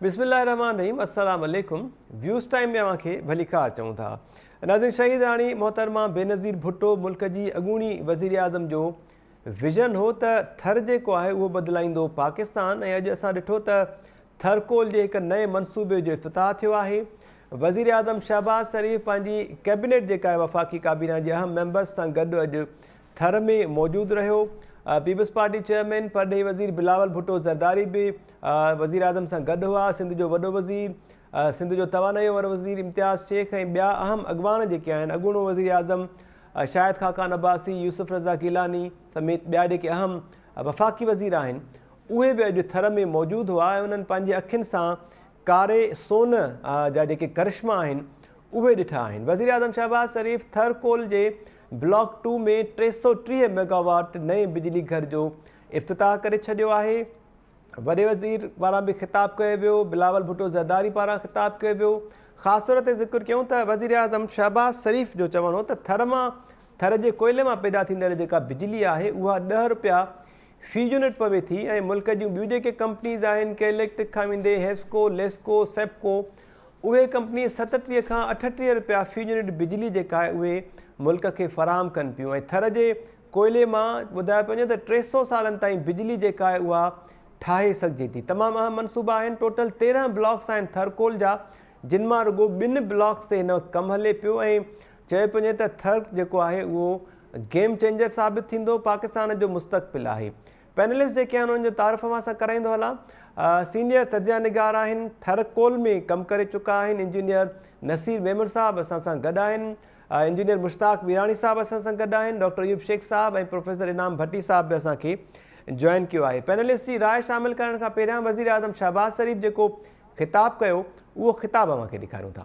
بسم الله الرحمن الرحيم السلام عليڪم ويوز ٽائيم ۾ اوهان کي ڀليڪار چئون ٿا ناظرين شهيداڻي محترمه بينظير ڀٽو ملڪ جي اڳوڻي وزيراعظم جو ويزن هو ته ٿر جيڪو آهي اهو بدلائيندو پاڪستان ۽ اڄ اسان ڏٺو ته ٿرڪول جي هڪ نئين منصوبي جو افتتاح ٿيو آهي وزيراعظم شهباز شريف پنهنجي ڪيبنيٽ جيڪا وفاقي ڪابينا جي اهم ميمبرس سان گڏ اڄ ٿر ۾ موجود رهيو. پيپلز پارٽي چيئرمين پرڏيهي وزير بلاول ڀٽو زرداري به وزيراعظم سان گڏ هئا، سنڌ جو وڏو وزير، سنڌ جو توانائيء وارو وزير امتياز شيخ ۽ ٻيا اهم اڳواڻ جيڪي آهن، اڳوڻو وزيراعظم شاهد خاقان عباسي، يوسف رضا گيلاني سميت ٻيا جيڪي اهم وفاقي وزير آهن، اهي به اڄ ٿر ۾ موجود هئا ۽ انهن پنهنجي اکين سان ڪاري سون جا جيڪي ڪرشما آهن، اهي ڏٺا آهن. وزيراعظم شهباز شريف ٿر ڪول جي بلاڪ ٽو ۾ ٽي سؤ ٽيهه ميگاواٽ نئين بجلي گهر جو افتتاح ڪري ڇڏيو آهي وڏي وزير پاران به خطاب ڪيو ويو بلاول ڀٽو زرداري پاران خطاب ڪيو ويو خاص طور تي ذڪر ڪيون ته وزيراعظم شهباز شريف جو چوڻ هو ته ٿر مان ٿر جي ڪوئلي مان پيدا ٿيندڙ جيڪا بجلي آهي اها ڏهه رپيا في يونٽ پوي ٿي ۽ ملڪ جون ٻيون جيڪي ڪمپنيز آهن ڪي اليڪٽرڪ کان ويندي هيسڪو ليسڪو سيپڪو اهي ڪمپني ستٽيهه کان اٺٽيهه رپيا في يونٽ بجلي جيڪا آهي اهي ملڪ کي فراهم ڪن پيون ۽ ٿر جي ڪوئلي مان ٻڌايو پيو وڃي ته ٽي سؤ سالن تائين بجلي جيڪا آهي اها ٺاهي سگهجي ٿي تمام اهم منصوبا آهن ٽوٽل تيرهن بلاڪس آهن ٿر ڪول جا جن مان رڳو ٻن بلاڪس تي هن وقت ڪم هلي پيو ۽ چيو پيو وڃي ته ٿر جيڪو آهي اهو گيم چينجر ثابت ٿيندو پاڪستان جو مستقبل آهي پينلسٽ جيڪي آهن انهن جو تعارف اوهان سان ڪرائيندو هلان. سينيئر تجزيه نگار آهن، ٿر ڪول ۾ ڪم ڪري چڪا آهن انجنيئر نصير ميمڻ صاحب اسان سان گڏ آهن، انجنيئر مشتاق ميراڻي صاحب اسان سان گڏ آهن، ڊاڪٽر ايوب شيخ صاحب ۽ پروفيسر انعام ڀٽي صاحب به اسان کي جوائن ڪيو آهي. پينلسٽ جي راء شامل ڪرڻ کان پهريان وزيراعظم شهباز شريف جيڪو خطاب ڪيو اهو خطاب اوهان کي ڏيکاريون ٿا.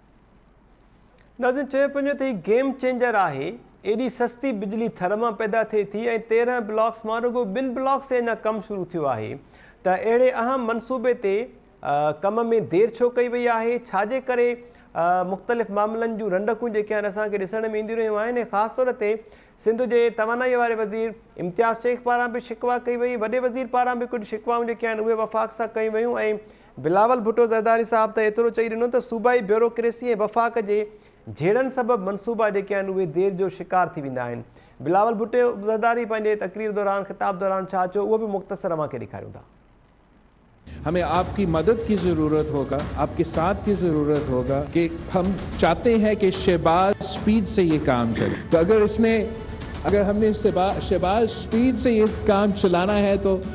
ناظرين چيو پيو وڃي ته هي گيم چينجر آهي، ايڏي سستي بجلي ٿر مان پيدا ٿئي ٿي ۽ تيرهن بلاڪس مان رڳو ٻن بلاڪس تي اڃا ڪم شروع ٿيو آهي ته اهڙي اهم منصوبي تي ڪم ۾ دير ڇو ڪئي وئي آهي، ڇا جي ڪري مختلف معاملن جون رنڊڪون جيڪي آهن اسان کي ڏسڻ ۾ اينديون رهيون آهن ۽ خاص طور تي سنڌ جي توانائي واري وزير امتياز شيخ پاران به شڪوا ڪئي وئي وڏي وزير پاران به ڪجهه شڪوائون جيڪي آهن اهي وفاق سان ڪيون ويون ۽ بلاول ڀٽو زرداري صاحب ته ايترو چئي ڏنو ته صوبائي بيوروڪريسي ۽ وفاق جي جهيڙن سبب منصوبا جيڪي آهن اهي دير جو شڪار ٿي ويندا آهن. بلاول ڀٽو زرداري پنهنجي تقرير دوران خطاب دوران ڇا چيو اهو به مختصر اوهان کي ڏيکاريون ٿا. همي آپ ڪي مدد ڪي ضرورت هوگا آپ ڪي ساٿ ڪي ضرورت هوگا ڪي هم چاهتي هين ڪي شهباز اسپيڊ سي يه ڪام چلي تو اگر اس ني اگر هم ني شهباز اسپيڊ سي يه ڪام چلانا هي تو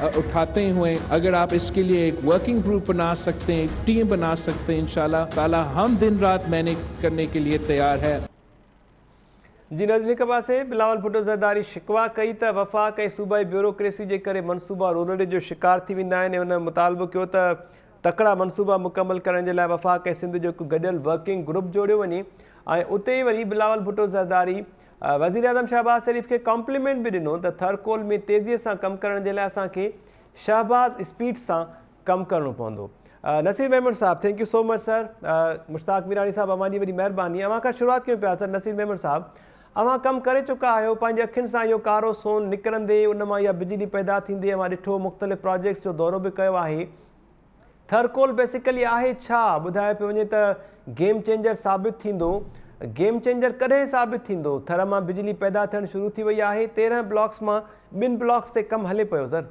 اٺاتے هئين اگر آپ اس کي لئي هڪ ورڪنگ گروپ بنا سکتي هين هڪ ٽيم بنا سکتي هين انشاء الله تعالي هم دن رات محنت ڪرني ڪي لئي تيار هي. جي ناظرين هڪ پاسي بلاول ڀٽو زرداري شڪوا ڪئي ته وفاق ۽ صوبائي بيوروڪريسي جي ڪري منصوبا رونڙي جو شڪار ٿي ويندا آهن ۽ هن مطالبو ڪيو ته تڪڙا منصوبا مڪمل ڪرڻ جي لاء وفاق ۽ سنڌ جو هڪ گڏيل ورڪنگ گروپ جوڙيو وڃي ۽ اتي ئي وري بلاول ڀٽو زرداري وزيراعظم شهباز شريف کي ڪامپليمينٽ به ڏنو ته ٿرڪول ۾ تيزي سان ڪم ڪرڻ جي لاء اسان کي شهباز اسپيڊ سان ڪم ڪرڻو پوندو. نصير ميمڻ صاحب thank you so much sir Mushtaq Mirani sahib اوهان جي وڏي مهرباني اوهان کان شروعات ڪيون پيا سر نصير ميمڻ صاحب اوهان ڪم ڪري چڪا آهيو پنهنجي اکين سان اهو ڪارو سون نڪرندي ان مان اها بجلي پيدا ٿيندي اوهان ڏٺو مختلف پراجيڪٽس جو دورو به ڪيو آهي ٿرڪول بيسيڪلي آهي ڇا؟ ٻڌايو پيو وڃي ته گيم چينجر ثابت ٿيندو. گيم چينجر ڪڏهن ثابت ٿيندو؟ ٿر مان بجلي پيدا ٿيڻ شروع ٿي وئي آهي تيرنهن بلاڪس مان ٻن بلاڪس تي ڪم هلي پيو زر.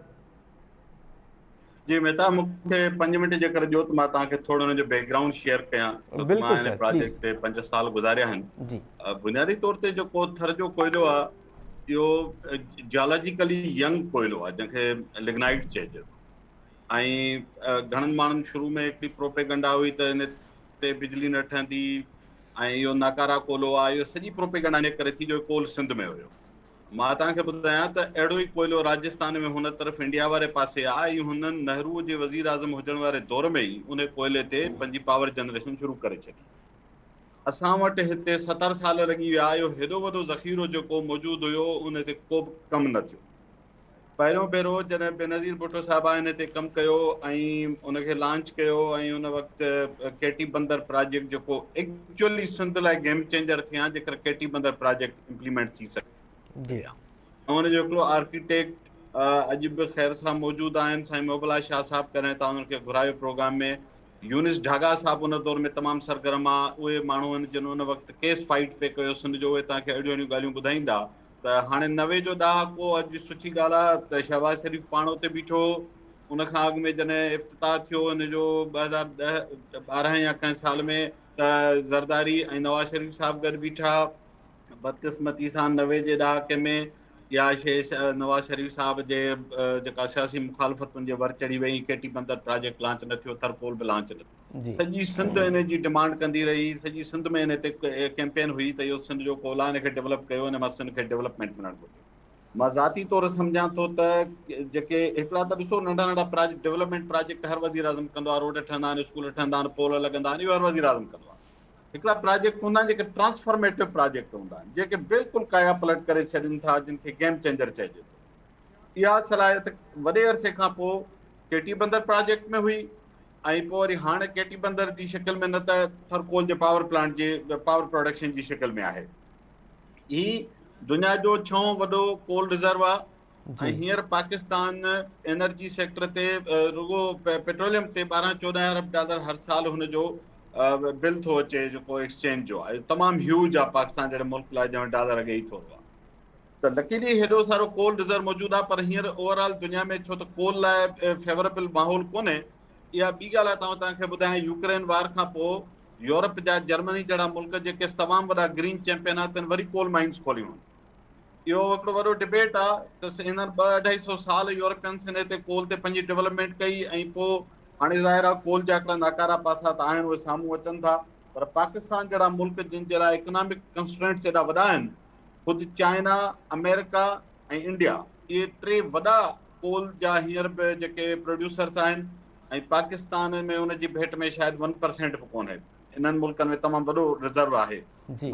جي مهتاب مون کي پنج منٽ جيڪر ڏيو ته مان توهان کي ٿورو ان جو بيڪ گرائونڊ شيئر ڪيان ڇو ته مان هن پراجيڪٽ تي پنج سال گذاريا آهن بنيادي طور تي جيڪو ٿر جو ڪوئلو آهي اهو جيالاجيڪلي ينگ ڪوئلو آهي جنهن کي لگنائيٽ چئجي ٿو ۽ گهڻن ماڻهن شروع ۾ هڪڙي پروپيگنڊا هئي ته ان تي بجلي نه ٺهندي ۽ اهو ناڪارا ڪولهو آهي. اهو سڄي پروپيگنڊا ان ڪري ٿي جو ڪول سنڌ ۾ هيو. مان توهان کي ٻڌايان ته اهڙو ئي ڪوئلو راجستان ۾ هن طرف انڊيا واري پاسي آهي ۽ هنن نهروء جي وزير اعظم هجڻ واري دور ۾ ئي ان ڪوئلي تي پنهنجي پاور جنريشن شروع ڪري ڇڏي. اسان وٽ هتي ستر سال لڳي ويا. اهو هيڏو وڏو ذخيرو جيڪو موجود هيو ان تي ڪوبه ڪم نه ٿيو. پهريون ڀيرو جڏهن بينظير ڀٽو صاحب آئيني تي ڪم ڪيو ۽ ان کي لانچ ڪيو ۽ ان وقت ڪي ٽي بندر پراجيڪٽ جيڪو ايڪچولي سنڌ لاء گيم چينجر ٿي ها جيڪر Keti Bandar project implement ٿي سگهي ها ۽ ان جو هڪڙو آرڪيٽيڪٽ اڄ به خير صاحب موجود آهن سائين محبلا شاهه صاحب ڪڏهن تان انهن کي گهرايو پروگرام ۾ يونس ڍاڳا صاحب ان دور ۾ تمام سرگرم آ اهي ماڻهو آهن جن ان وقت ڪيس فائيٽ پي ڪيو سن جو اهي تان کي اهڙيون اهڙيون ڳالهيون ٻڌائيندا ته هاڻي نوي جو ڏهاڪو اڄ سٺي ڳالهه آهي ته شهباز شريف پاڻ اتي بيٺو هو، ان کان اڳ ۾ جڏهن افتتاح ٿيو هن جو ٻه هزار ڏهه ٻارهن يا ڪنهن سال ۾ ته زرداري ۽ نواز شريف صاحب گڏ بيٺا، بدقسمتي سان نوي جي ڏهاڪي ۾ اها شيء نواز شريف صاحب جي جيڪا سياسي مخالفتن جي ور چڙهي وئي، Keti Bandar project launch نه ٿيو، ٿرپول به لانچ نه ٿيو. جي سڄي سنڌ ان جي ڊمانڊ ڪندي رهي سڄي سنڌ ۾ ان تي ڪيمپين هئي ته اهو سنڌ جو ڪولا ان کي ڊولپ ڪيو ان مان سنڌ کي ڊولپمينٽ ملڻ گهرجي مان ذاتي طور سمجهان ٿو ته جيڪي هڪڙا ته ڏسو ننڍا ننڍا پراجيڪٽ ڊولپمينٽ پراجيڪٽ هر وزير اعظم ڪندو آهي روڊ ٺهندا آهن اسڪول ٺهندا آهن پول لڳندا آهن اهو هر وزير اعظم ڪندو آهي هڪڙا پراجيڪٽ هوندا آهن جيڪي ٽرانسفارميٽو پراجيڪٽ هوندا آهن جيڪي بلڪل ڪايا پلٽ ڪري ڇڏين ٿا جن کي گيم چينجر چئجي ٿو اها صلاحيت وڏي عرصي کان پوء چيٽي بندر پراجيڪٽ ۾ هئي ۽ پوء وري هاڻ ڪيٽي بندر جي شڪل ۾ نه ته ٿر ڪول جي پاور پلانٽ جي پاور پروڊڪشن جي شڪل ۾ آهي. هي دنيا جو ڇهون وڏو ڪول رزرو آهي ۽ هينئر پاڪستان انرجي سيڪٽر تي رڳو پيٽروليم تي ٻارهن چوڏهن ارب ڊالر هر سال هن جو بل ٿو اچي جيڪو ايڪسچينج جو آهي تمام هيوج آهي پاڪستان جهڙي ملڪ لاء جنهن وٽ ڊالر اڳي ئي ٿورو آهي. ته لڪي جي هيڏو سارو ڪول رزرو موجود آهي پر هينئر اوور آل دنيا ۾ ڇو ته ڪول لاء فيوريبل ماحول ڪونهي اها ٻي ڳالهه آهي ته آئون توهان کي ٻڌايان يوڪرين وار کان پوء يورپ جا جرمني جهڙا ملڪ جيڪي تمام وڏا گرين چيمپين آهن تن وري ڪول مائنز کوليون آهن اهو هڪڙو وڏو ڊبيٽ آهي ته هنن ٻه اڍائي سو سال يورپينس هن هتي ڪول تي پنهنجي ڊولپمينٽ ڪئي ۽ پوء هاڻي ظاهر آهي ڪول جا هڪڙا ناڪارا پاسا ته آهن اهي سامهون اچن ٿا پر پاڪستان جهڙا ملڪ جن جي لاء اڪنامڪ ڪنسٽرينٽس ايڏا وڏا آهن خود چائنا، آمريڪا ۽ انڊيا اهي ٽي وڏا ڪول جا هينئر به جيڪي پروڊيوسرس آهن ۽ پاڪستان ۾ ان جي ڀيٽ ۾ شايد ون پرسينٽ به ڪونهي. انهن ملڪن ۾ تمام وڏو رزرو آهي.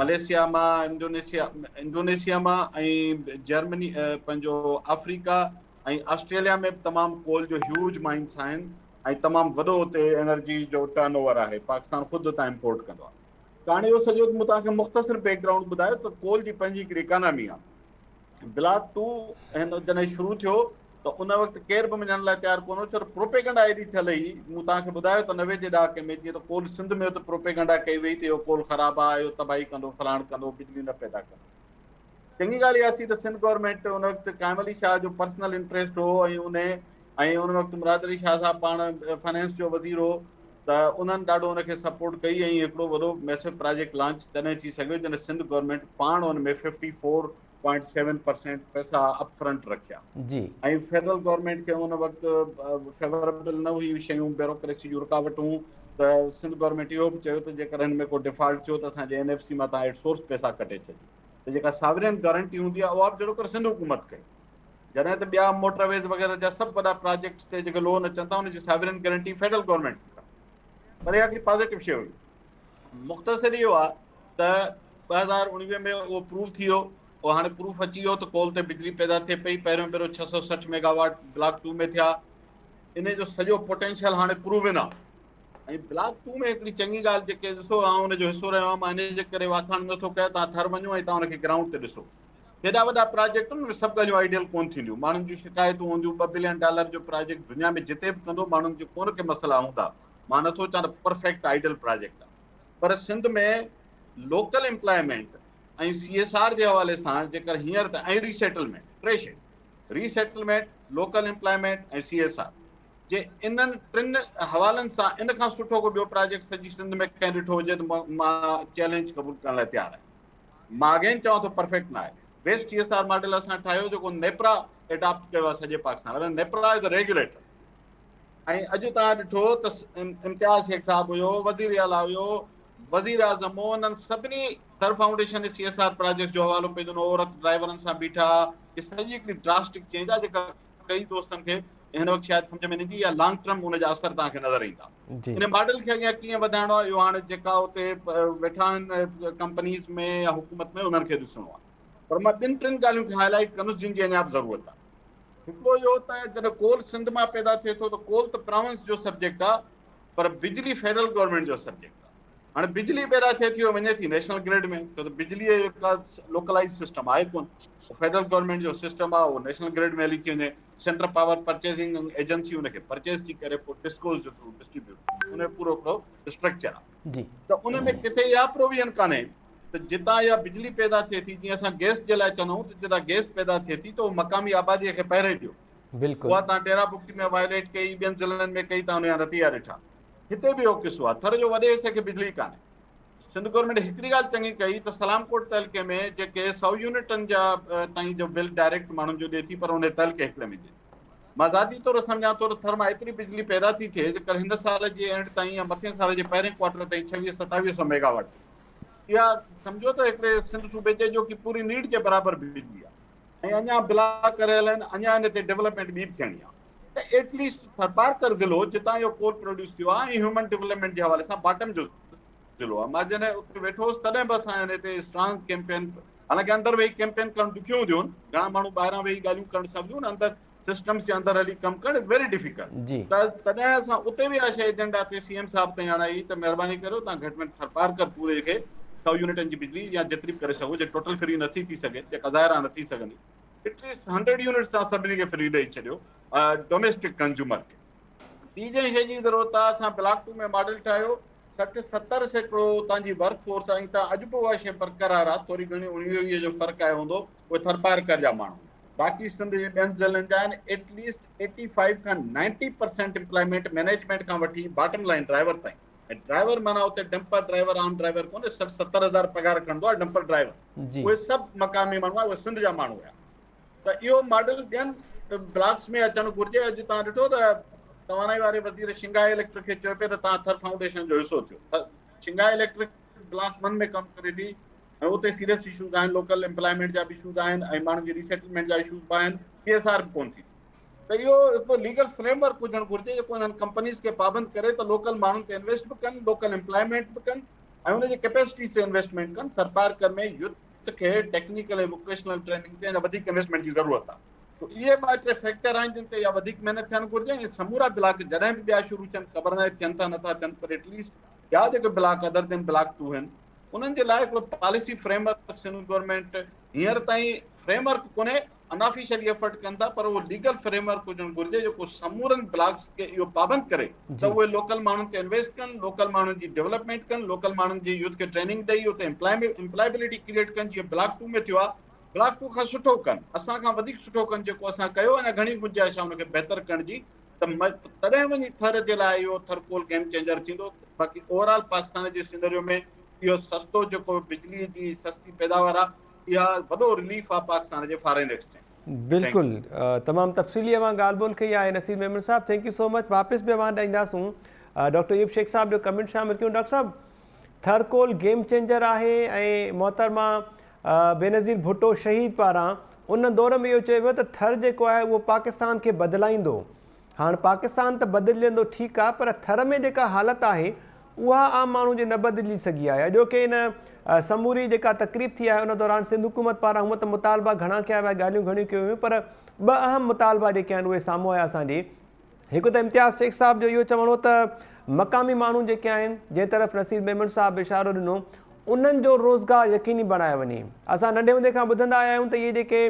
ملائيشيا مان انڊونيشيا انڊونيشيا مان ۽ جرمني پنهنجو آفريڪا ۽ آسٽريليا ۾ به تمام ڪول جو هيوج مائنس آهن ۽ تمام وڏو اتي انرجي جو ٽرن اوور آهي. پاڪستان خود اتان امپورٽ ڪندو آهي. ڪهاڻي جو سڄو مون توهان کي مختصر بيڪ گرائونڊ ٻڌايو ته ڪول جي پنهنجي هڪڙي اڪانامي آهي. بلاڪ ٽو هن جڏهن شروع ٿيو ته ان وقت ڪير به مڃڻ لاء تيار ڪونه هو ڇو ته پروپيگنڊا ايڏي ٿيل هئي مون توهان کي ٻڌايو ته نوي جي ڏهاڪي ۾ جيئن ته ڪول سنڌ ۾ هو ته پروپيگنڊا ڪئي وئي ته اهو ڪول خراب آهي اهو تباهي ڪندو فلاڻ ڪندو بجلي نه پيدا ڪندو چڱي ڳالهه اها ٿي ته سنڌ گورنمينٽ ان وقت قائم علي شاهه جو پرسنل انٽريسٽ هو ۽ ان ۽ ان وقت مراد علي شاهه صاحب پاڻ فنانس جو وزير هو ته انهن ڏاڍو ان کي سپورٽ ڪئي ۽ هڪڙو وڏو ميسو پراجيڪٽ لانچ تڏهن ٿي سگهيو جڏهن سنڌ گورنمينٽ پاڻ ان ۾ fifty four point seven percent پئسا اپ فرنٽ رکيا جي ۽ فيڊرل گورنمينٽ کي ان وقت فيوربل نه هيون شيون بيوروڪريسي جون رڪاوٽون ته سنڌ گورنمينٽ اهو به چيو ته جيڪڏهن هن ۾ ڪو ڊيفالٽ ٿيو ته اسان جي اين ايف سي مان تان ايٽ سورس پئسا ڪٽي ڇڏيو ته جيڪا ساورين گارنٽي هوندي آهي اها به جهڙو ڪر سنڌ حڪومت ڪئي. جڏهن ته ٻيا موٽر ويز وغيره جا سڀ وڏا پراجيڪٽس تي جيڪي لون اچن ٿا ان جي ساورين گارنٽي فيڊرل گورنمينٽ ڏيندا. پر اها هڪڙي پازيٽو شيء هئي. مختصر اهو آهي ته ٻه هزار اڻويهه ۾ اهو پروف ٿي ويو. اهو هاڻي پروف اچي ويو ته ڪول تي بجلي پيدا ٿئي پئي. پهريون ڀيرو ڇهه سؤ سٺ ميگا واٽ بلاڪ ٽو ۾ ٿيا. انهي جو سڄو پوٽينشل هاڻي پروون آهي. ۽ بلاڪ ٽو ۾ هڪڙي چڱي ڳالهه جيڪي ڏسو آئون ان جو حصو رهيو آهيان مان انهي جي ڪري واکاڻ نه ٿو ڪيان تان ٿر وڃو ۽ تان ان کي گرائونڊ تي ڏسو هيڏا وڏا پراجيڪٽ ان ۾ سڀ ڳالهيون آئيڊيل ڪون ٿينديون ماڻهن جون شڪايتون هونديون ٻه بلين ڊالر جو پراجيڪٽ دنيا ۾ جتي به ڪندو ماڻهن جون ڪون ڪي مسئلا هوندا مان نٿو چان ته پرفيڪٽ آئيڊيل پراجيڪٽ آهي پر Sindh ۾ local employment ۽ C S R جي حوالي سان جيڪر هينئر ته ۽ ريسيٽلمينٽ ٽي شيون resettlement local employment ۽ C S R جي انهن ٽن حوالن سان ان کان سٺو ڪو ٻيو پراجيڪٽ سڄي سنڌ ۾ ڪنهن ڏٺو هجي ته مان چئلينج قبول ڪرڻ لاء تيار آهيان مان اگين چوان ٿو پرفيڪٽ نه آهي best T S R model اسان ٺاهيو جيڪو نيپرا ايڊاپٽ ڪيو آهي سڄي پاڪستان نيپرا از ريگوليٽر ۽ اڄ تان ڏٺو ته امتياز شيخ صاحب هيو وزير اعليٰ هيو وزير اعظم هو انهن سڀني sir foundation C S R project جو حوالو پيو ڏنو عورت ڊرائيورن سان بيٺا هي سڄي هڪڙي ڊراسٽڪ چينج آهي جيڪا ڪيئي دوستن کي هن وقت شايد سمجهه ۾ نه ايندي يا لانگ ٽرم ان جا اثر توهان کي نظر ايندا. ان ماڊل کي اڳيان ڪيئن وڌائڻو آهي اهو هاڻي جيڪا اتي ويٺا آهن ڪمپنيز ۾ يا حڪومت ۾ انهن کي ڏسڻو آهي. پر مان ٻن ٽن ڳالهيون کي هاء لائيٽ ڪندس جن جي اڃا به ضرورت آهي. هڪڙو اهو ته جڏهن ڪول سنڌ مان پيدا ٿئي ٿو ته ڪول ته پراونس جو سبجيڪٽ آهي پر بجلي فيڊرل گورنمينٽ جو سبجيڪٽ آهي. هاڻي بجلي پيدا ٿئي ٿي وڃي ٿي نيشنل گريڊ ۾ ڇو ته بجلي جو ڪا لوڪلائز سسٽم آهي ڪون فيڊرل گورنمينٽ جو سسٽم آهي اهو نيشنل گريڊ ۾ هلي ٿي وڃي سينٽرل پاور پرچيزنگ ايجنسي ان کي پرچيز ٿي ڪري پوء ڊسڪوز جو ٿرو ڊسٽريبيوٽ ان جو پورو هڪڙو اسٽرڪچر آهي جي ته ان ۾ ڪٿي اها پروويزن ڪانهي ته جتان اها بجلي پيدا ٿئي ٿي جيئن اسان گئس جي لاء چوندا آهيون ته جتان گئس پيدا ٿئي ٿي ته اهو مقامي آباديء کي پهري ڏيو بلڪل اها تان ڊيرا بگٽي ۾ وائليٽ ڪئي ٻين ضلعن ۾ ڪئي تان ان جا نتيجا ڏٺا هتي به اهو قصو آهي، ٿر جو وڏي حصي کي بجلي ڪانهي. سنڌ گورنمينٽ هڪڙي ڳالهه چڱي ڪئي ته سلام ڪوٽ تعلقي ۾ جيڪي سؤ يونٽن جا تائين جو بل ڊائريڪٽ ماڻهن جو ڏئي ٿي پر انهي تعلقي هڪڙي ۾ ڏئي ٿي. مان ذاتي طور سمجهان ٿو ته ٿر مان ايتري بجلي پيدا ٿي ٿئي جيڪر هن سال جي اينڊ تائين يا مٿين سال جي پهرين ڪوارٽر تائين ڇويهه ستاويهه سؤ ميگا واٽ ٿئي. اها سمجهو ته هڪڙي سنڌ صوبي جي اڄوڪي پوري نيڊ جي برابر بجلي آهي. ۽ اڃان بلا ڪريل آهن، اڃان ان تي ڊولپمينٽ ٻي به ٿيڻي آهي. ته ايٽ ليسٽ ٿرپارڪر ضلعو جتان اهو ڪول پروڊيوس ٿيو آهي ۽ هيومن ڊولپمينٽ جي حوالي سان باٽم جو ضلعو آهي مان جڏهن اتي ويٺو هوس تڏهن به اسان هن تي اسٽرانگ ڪيمپين حالانڪه اندر ويهي ڪيمپين ڪرڻ ڏکيون هونديون آهن گهڻا ماڻهو ٻاهران ويهي ڳالهيون ڪرڻ سوليون آهن اندر سسٽمز جي اندر هلي ڪم ڪرڻ از ويري ڊيفيڪلٽ ته تڏهن اسان اتي به اها شي ايجنڊا تي سي ايم صاحب تائين آڻائي ته مهرباني ڪريو تان گهٽ ۾ ٿرپارڪر پوري کي سؤ يونٽن جي بجلي يا جيتري به ڪري سگهو جي ٽوٽل فري نٿي ٿي سگهي جيڪا ظاهر آهي نٿي سگهندي ايٽليسٽ هنڊريڊ يونٽس تان سڀني کي فري ڏئي ڇڏيو ڊوميسٽڪ ڪنزيومر کي ٻي جنهن شي جي ضرورت آهي اسان بلاڪ ٽو ۾ ماڊل ٺاهيو سٺ ستر سيڪڙو اتان جي ورڪ فورس آهي ته اڄ به اها شي برقرار آهي ٿوري گهڻي اڻويهه ويهه جو فرق آيو هوندو اهي ٿرپارڪر جا ماڻهو باقي سنڌ جي ٻين ضلعن جا آهن ايٽليسٽ ايٽي فائيو کان نائنٽي پرسينٽ امپلائمينٽ مينيجمينٽ کان وٺي باٽم لائن ڊرائيور تائين ۽ ڊرائيور معنيٰ اتي ڊمپر ڊرائيور عام ڊرائيور ڪونهي سٺ ستر هزار پگهار کڻندو آهي ڊمپر ڊرائيور اهي سڀ مقامي ماڻهو اهي سنڌ جا ماڻهو هيا ته اهو ماڊل ٻين بلاڪس ۾ اچڻ گهرجي اڄ تان ڏٺو ته توانائي واري وزير شنگا اليڪٽرڪ کي چيو پي ته تان ٿر فائونڊيشن جو حصو ٿيو شنگا اليڪٽرڪ بلاڪ من ۾ ڪم ڪري ٿي ۽ اتي سيريس اشوز آهن لوڪل امپلائمينٽ جا به اشوز آهن ۽ ماڻهن جي ريسيٽلمينٽ جا اشوز به آهن پي ايس آر به ڪون ٿي ته اهو هڪڙو ليگل فريم ورڪ هجڻ گهرجي جيڪو انهن ڪمپنيز کي پابند ڪري ته لوڪل ماڻهن تي انويسٽ به ڪن لوڪل امپلائمينٽ به ڪن ۽ ان جي ڪيپيسٽيز تي انويسٽمينٽ ڪن ٿرپارڪر ۾ يوٿ کي ٽيڪنيڪل ۽ ووڪيشنل ٽريننگ تي اڃا وڌيڪ انويسٽمينٽ جي ضرورت آهي تو اهي ٻه ٽي فيڪٽر آهن جن تي اها وڌيڪ محنت ٿيڻ گهرجي ۽ سمورا بلاڪ جڏهن به ٻيا شروع ٿين خبر ناهي ٿين ٿا نٿا ٿين پر ايٽ ليسٽ ٻيا جيڪي block other than block two آهن انهن جي لاء هڪڙو policy framework Sindh government هينئر تائين فريم ورڪ ڪونهي انآفيشلي ايفرٽ ڪن ٿا پر اهو ليگل فريم ورڪ هجڻ گهرجي جيڪو سمورن بلاڪس کي اهو پابند ڪري ته اهي لوڪل ماڻهن تي انويسٽ ڪن لوڪل ماڻهن جي ڊيولپمينٽ ڪن لوڪل ماڻهن جي يوٿ کي ٽريننگ ڏئي اتي امپلائبلٽي ڪريئيٽ ڪن جيئن بلاڪ ٽو ۾ ٿيو آهي بلاڪ ٽو کان سٺو ڪن اسان کان وڌيڪ سٺو ڪن جيڪو اسان ڪيو اڃا گهڻي گنجائش آهي ان کي بهتر ڪرڻ جي ته تڏهن وڃي ٿر جي لاء اهو ٿرڪول گيم چينجر ٿيندو باقي اوور آل پاڪستان جي سينريو ۾ اهو سستو جيڪو بجلي جي سستي پيداوار آهي اها وڏو رليف آ پاڪستان جي فارين ايڪسچينج. بلڪل تمام تفصيلي اوهان ڳالهه ٻولهه ڪئي آهي نصير ميمڻ صاحب ٿينڪ يو سو مچ واپس به اوهان ڏي اينداسون ڊاڪٽر ايوب شيخ صاحب جو ڪمنٽ شامل ڪيون ڊاڪٽر صاحب ٿر ڪول گيم چينجر آهي ۽ محترمه بينظير ڀٽو شهيد پاران ان دور ۾ اهو چيو ويو ته ٿر جيڪو آهي اهو پاڪستان کي بدلائيندو هاڻ پاڪستان ته بدلجندو ٺيڪ آ پر ٿر ۾ جيڪا حالت آهي اها عام ماڻهو جي نه بدلجي سگهي آهي اڄوڪي ان سموري جيڪا تقريب ٿي آهي ان دوران سنڌ حڪومت پاران هونء ته مطالبا گهڻا ڪيا ويا ڳالهيون گهڻيون ڪيون ويون پر ٻه اهم مطالبا جيڪي آهن اهي سامهون آيا اسان جي هڪ ته امتياز شيخ صاحب جو اهو چوڻ هو ته مقامي ماڻهو جيڪي آهن جنهن طرف نصير ميمڻ صاحب به اشارو ڏنو انهن جو روزگار يقيني بڻايو وڃي اسان ننڍي هوندي کان ٻڌندا آيا آهيون ته اهي جيڪي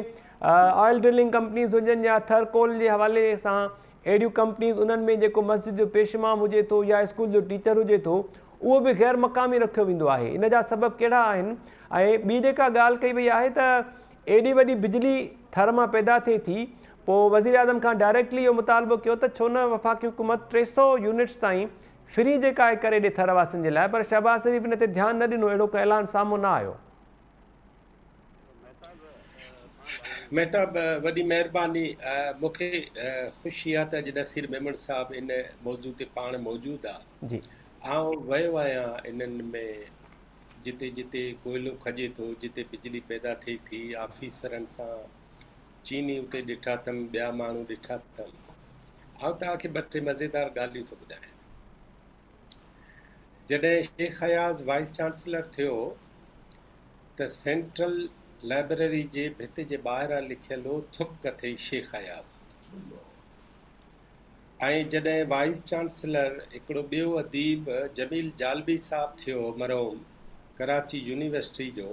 آئل ڊرلنگ ڪمپنيز هجن يا ٿر ڪول جي حوالي سان اهڙيون ڪمپنيز انهن ۾ جيڪو مسجد جو پيش امام هجي ٿو يا اسڪول جو ٽيچر هجي ٿو اهو به غير مقامي رکيو ويندو آهي ان جا سبب ڪهڙا آهن ۽ ٻي جيڪا ڳالهه ڪئي وئي آهي ته ايڏي وڏي بجلي ٿر مان پيدا ٿئي ٿي پوء وزيراعظم کان ڊائريڪٽلي اهو مطالبو ڪيو ته ڇو نه وفاقي حڪومت ٽي سؤ يونٽس تائين فري جيڪا آهي ڪري ڏي ٿر واسين جي لاء پر شهباز شريف ان تي ڌيان نه ڏنو اهڙو ڪو اعلان سامهون نه آيو. مهتاب، وڏي مهرباني. مون کي خوشي آهي ته اڄ نصير ميمڻ صاحب ان موضوع تي پاڻ موجود آ. جي. آئون ويو آهيان انهن ۾ جتي جتي ڪوئلو کڄي ٿو، جتي بجلي پيدا ٿئي ٿي، آفيسرن سان چيني اتي ڏٺا اٿم، ٻيا ماڻهو ڏٺا اٿم. آئون توهان کي ٻه ٽي مزيدار ڳالهيون ٿو ٻڌايان. جڏهن شيخ اياز وائيس چانسلر ٿيو ته سينٽرل لائبرري جي ڀت جي ٻاهران لکيل هو ٿڪ اٿئي شيخ اياز ۽ جڏهن وائيس چانسلر هڪڙو ٻيو اديب جميل جالبي صاحب ٿيو مرحوم ڪراچي يونيورسٽي جو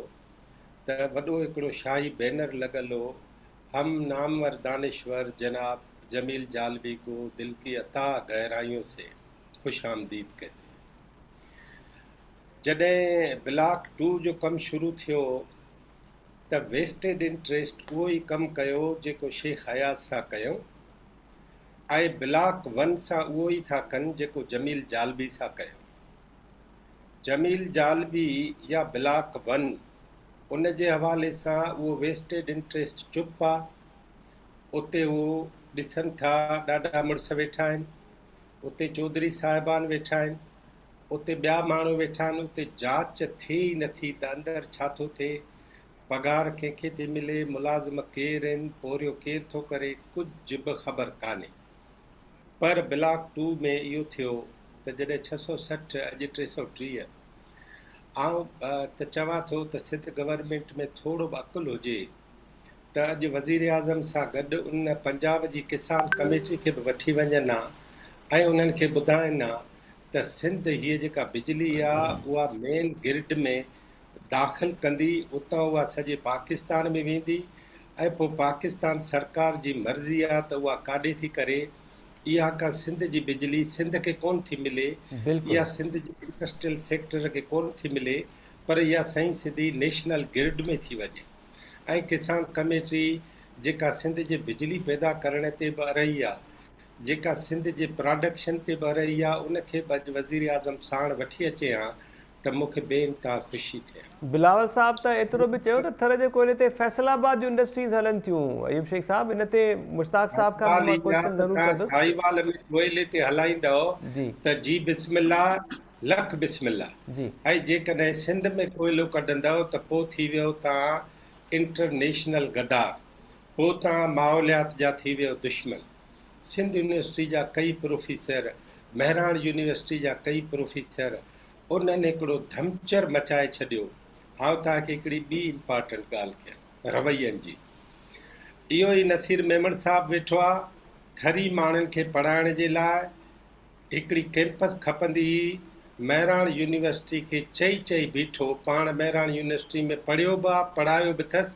ته وڏو هڪڙو شاهي بينر لڳل هو هم نامور دانشور جناب جميل جالبي ڪو دل ڪي اتاء گهرايون سي خوش آمديد ڪهتي هي. جڏهن بلاڪ ٽو جو ڪم شروع ٿيو ته ويسٽيڊ انٽريسٽ اهو ئي ڪم ڪيو جيڪو شيخ اياز سان ڪيون ۽ بلاڪ ون سان اهو ئي ٿا ڪن جيڪو جميل جالبي سان ڪيون. جميل جالبي يا بلاڪ ون ان جي حوالي سان اهو ويسٽيڊ انٽريسٽ چپ آ اتي هو ڏسن ٿا ڏاڍا مڙس ويٺا آهن اتي چوڌري صاحبان ويٺا آهن اتي ٻيا ماڻهو ويٺا آهن اتي جاچ ٿئي ئي نٿي ته اندر ڇا ٿو ٿئي پگهار ڪنهن کي ٿي ملي ملازم ڪير آهن پورهيو ڪير ٿو ڪري ڪجهه به خبر ڪانهي پر بلاڪ ٽو ۾ اهو ٿيو ته جڏهن ڇهه سؤ سٺ اڄ ٽي سؤ ٽيهه آئون ته چوان ٿو ته سنڌ گورنمينٽ ۾ ٿورو به عقل هجي ته اڄ وزيراعظم سان گڏ ان پنجاب جي ڪسان ڪميٽي کي به وٺي وڃن ها ۽ انهن کي ٻڌائين ها ته سنڌ هيء جيڪا بجلي آهي اها مين گرڊ ۾ داخل ڪندي اتان اها سڄي پاڪستان ۾ ويندي ۽ پوء پاڪستان سرڪار جي مرضي آ ته اها ڪاڏي ٿي ڪري اها ڪا سنڌ جي بجلي سنڌ کي ڪون ٿي ملي اها سنڌ جي انڊسٽريل سيڪٽر کي ڪون ٿي ملي پر اها سائين سڌي نيشنل گرڊ ۾ ٿي وڃي ۽ ڪسان ڪميٽي جيڪا سنڌ جي بجلي پيدا ڪرڻ تي به ارهي آ جيڪا سنڌ جي پراڊڪشن تي به ارهي آ ان کي به اڄ وزيراعظم ساڻ وٺي اچي هان ته مون کي بي انتها خوشي ٿئي. بلاول صاحب ته ايترو به چيو ته ٿر جي ڪوئلي تي فيصل آباد جون انڊسٽريز هلن ٿيون ايوب شيخ صاحب ان تي مشتاق صاحب کان به مان ڪوئسچن ضرور ڪندس. ساهيوال ۾ ڪوئلي تي هلائيندؤ ته جي بسم الله لک بسم الله ۽ جيڪڏهن سنڌ ۾ ڪوئلو ڪڍندؤ ته پو ٿي ويئو تان انٽرنيشنل غدار پو تان ماحوليات جا ٿي ويئو دشمن سنڌ يونيورسٽي جا ڪئي پروفيسر مهراڻ يونيورسٽي جا ڪئي پروفيسر انهن هڪڙو ڌمچر مچائي ڇڏيو. هائون توهان کي هڪڙي ٻي امپارٽنٽ ڳالهه ڪيان، روين جي. اهو ئي نصير ميمڻ صاحب ويٺو آ، ٿري ماڻهن کي پڙهائڻ جي لاء هڪڙي ڪئمپس کپندي هئي، مهراڻ يونيورسٽي کي چئي چئي بيٺو، پاڻ مهراڻ يونيورسٽي ۾ پڙهيو به آ، پڙهايو به ٿس،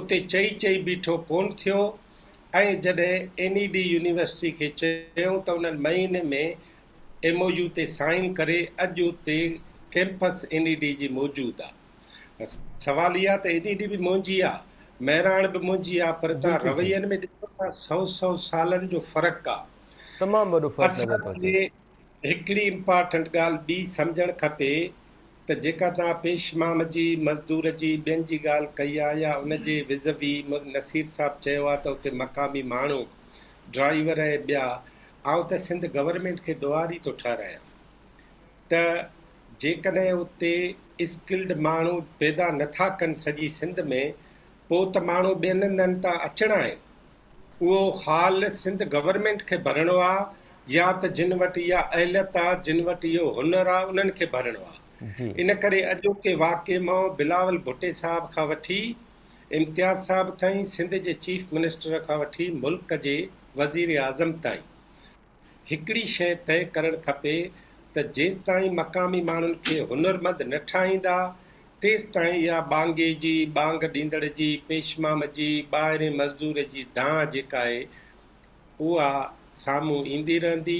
اتي چئي چئي بيٺو ڪونه ٿيو ۽ جڏهن اين اي ڊي يونيورسٽي کي چيائون ته انهن مهيني ۾ ايم او يو تي سائين ڪري اڄ اتي ڪيمپس اين اي ڊي جي موجود آ سوال اي آ ته اين اي ڊي به منهنجي آ مهراڻ به منهنجي آ پر تان روين ۾ ڏسو ٿا سو سو سالن جو فرق آ تمام وڏو فرق نظر ٿو اچي هڪڙي امپارٽنٽ ڳالهه ٻي سمجهڻ کپي ته جيڪا توهان پيش مام جي، مزدور جي، ٻين جي ڳالهه ڪئي آهي يا ان جي وزوي نصير صاحب چيو آهي ته اتي مقامي ماڻهو، ڊرائيور ۽ ٻيا، آئون ته سنڌ گورنمينٽ کي ڏوهاري ٿو ٺهرايان ته جيڪڏهن اتي اسڪلڊ ماڻهو پيدا نٿا ڪن سڄي سنڌ ۾ پوء ته ماڻهو ٻين هنڌن تان اچڻا آهن. اهو خال سنڌ گورنمينٽ کي ڀرڻو آ يا ته جن وٽ اها اهليت آ جن وٽ اهو هنر آ انهن کي ڀرڻو آ ان ڪري اڄوڪي واقعي مان بلاول ڀٽي صاحب کان وٺي امتياز صاحب تائين سنڌ جي چيف منسٽر کان وٺي ملڪ جي وزير اعظم تائين هڪڙي شيء طئي ڪرڻ کپي ته جيستائين مقامي ماڻهن کي هنرمند نه ٺاهيندا، تيستائين اها ٻانگي جي، ٻانگ ڏيندڙ جي، پيشمام جي، ٻاهرين مزدور جي دانهن جيڪا آهي، اها سامهون ايندي رهندي.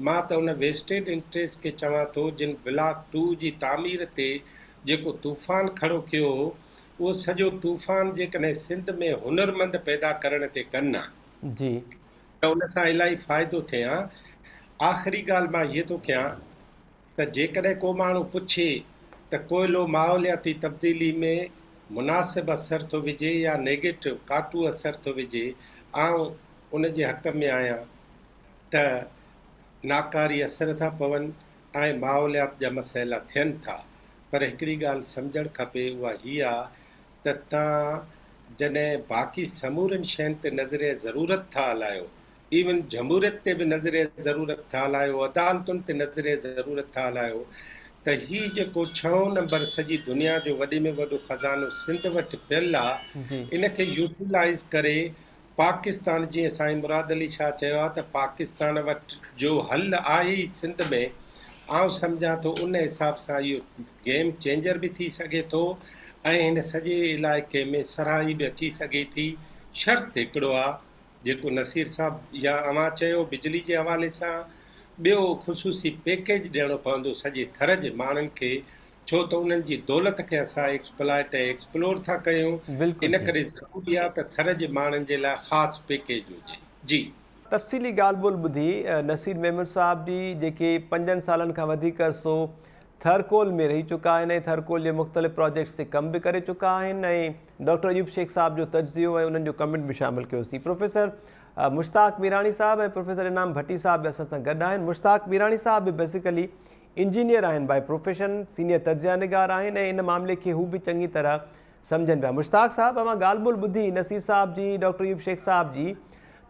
مان ته ان ويسٽيڊ انٽريسٽ کي چوان ٿو، جن بلاڪ ٽو جي تعمير تي جيڪو طوفان کڙو ڪيو هو، اهو سڄو طوفان جيڪڏهن سنڌ ۾ هنرمند پيدا ڪرڻ تي ڪن ها. جي. ته ان سان الاهي فائدو ٿئي ها. آخري ڳالهه مان هيء ٿو ڪيان ته جيڪڏهن ڪو ماڻهو پڇي ته ڪوئلو ماحولياتي تبديلي ۾ مناسب اثر ٿو وجهي يا نيگيٽو، ڪاٽو، اثر ٿو وجهي، آئون ان جي حق ۾ آهيان ته ناڪاري اثر ٿا پون ۽ ماحوليات جا مسئلا ٿين ٿا پر هڪڙي ڳالهه سمجهڻ کپي اها هيء آ ته توهان جڏهن باقي سمورين شين تي نظريه ضرورت ٿا هلايو، ايون جمهوريت تي به نظريه ضرورت ٿا هلايو، عدالتن تي نظريه ضرورت ٿا هلايو ته هي جيڪو ڇهون نمبر سڄي دنيا جو وڏي ۾ وڏو خزانو سنڌ وٽ پيل آ، ان کي يوٽيلائيز ڪري پاڪستان جي سائين مراد علي شاهه چيو آهي ته پاڪستان وٽ جو حل آهي ئي سنڌ ۾ آئون سمجهان ٿو ان حساب سان اهو گيم چينجر به ٿي سگهي ٿو ۽ هن سڄي علائقي ۾ سرهائي به اچي سگهي ٿي شرط هڪڙو آهي جيڪو نصير صاحب يا اوهان چيو بجلي جي حوالي سان ٻيو خصوصي پيڪيج ڏيڻو پوندو سڄي ٿر جي ماڻهن کي ڇو ته انهن جي دولت کي اسان ايڪسپلائيٽ ۽ ايڪسپلور ٿا ڪيون ان ڪري ضروري آهي ته ٿر جي ماڻهن جي لاء خاص پيڪيج هجي جي. تفصيلي ڳالهه ٻولهه ٻڌي نصير ميمڻ صاحب جي جيڪي پنجن سالن کان وڌيڪ عرصو ٿر ڪول ۾ رهي چڪا آهن ۽ ٿر ڪول جي مختلف پراجيڪٽس تي ڪم به ڪري چڪا آهن ۽ ڊاڪٽر ايوب شيخ صاحب جو تجزيو ۽ انهن جو ڪمينٽ به شامل ڪيوسين پروفيسر مشتاق ميراڻي صاحب ۽ پروفيسر انعام ڀٽي صاحب به اسان سان گڏ آهن مشتاق ميراڻي صاحب به بيسيڪلي انجنيئر آهن بائي پروفيشن، سينيئر تجزيه نگار آهن ۽ ان معاملي کي هو به چڱي طرح سمجهن پيا. مشتاق صاحب اوهان ڳالهه ٻولهه ٻڌي نصير صاحب جي، ڊاڪٽر ايوب شيخ صاحب جي.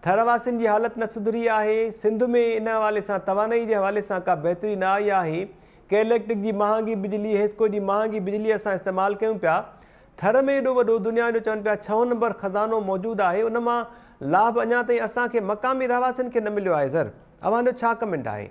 ٿر واسين جي حالت نه سڌري آهي، سنڌ ۾ ان حوالي سان توانائي جي حوالي سان ڪا بهتري نه آئي آهي، ڪي اليڪٽرڪ جي مهانگي بجلي، حيسڪو جي مهانگي بجلي اسان استعمال ڪيون پيا. ٿر ۾ ايڏو وڏو دنيا جو چون پيا ڇهون نمبر خزانو موجود آهي ان مان لاڀ اڃا تائين اسان کي مقامي رهواسين کي نه مليو آهي زر اوهان جو ڇا ڪمينٽ آهي.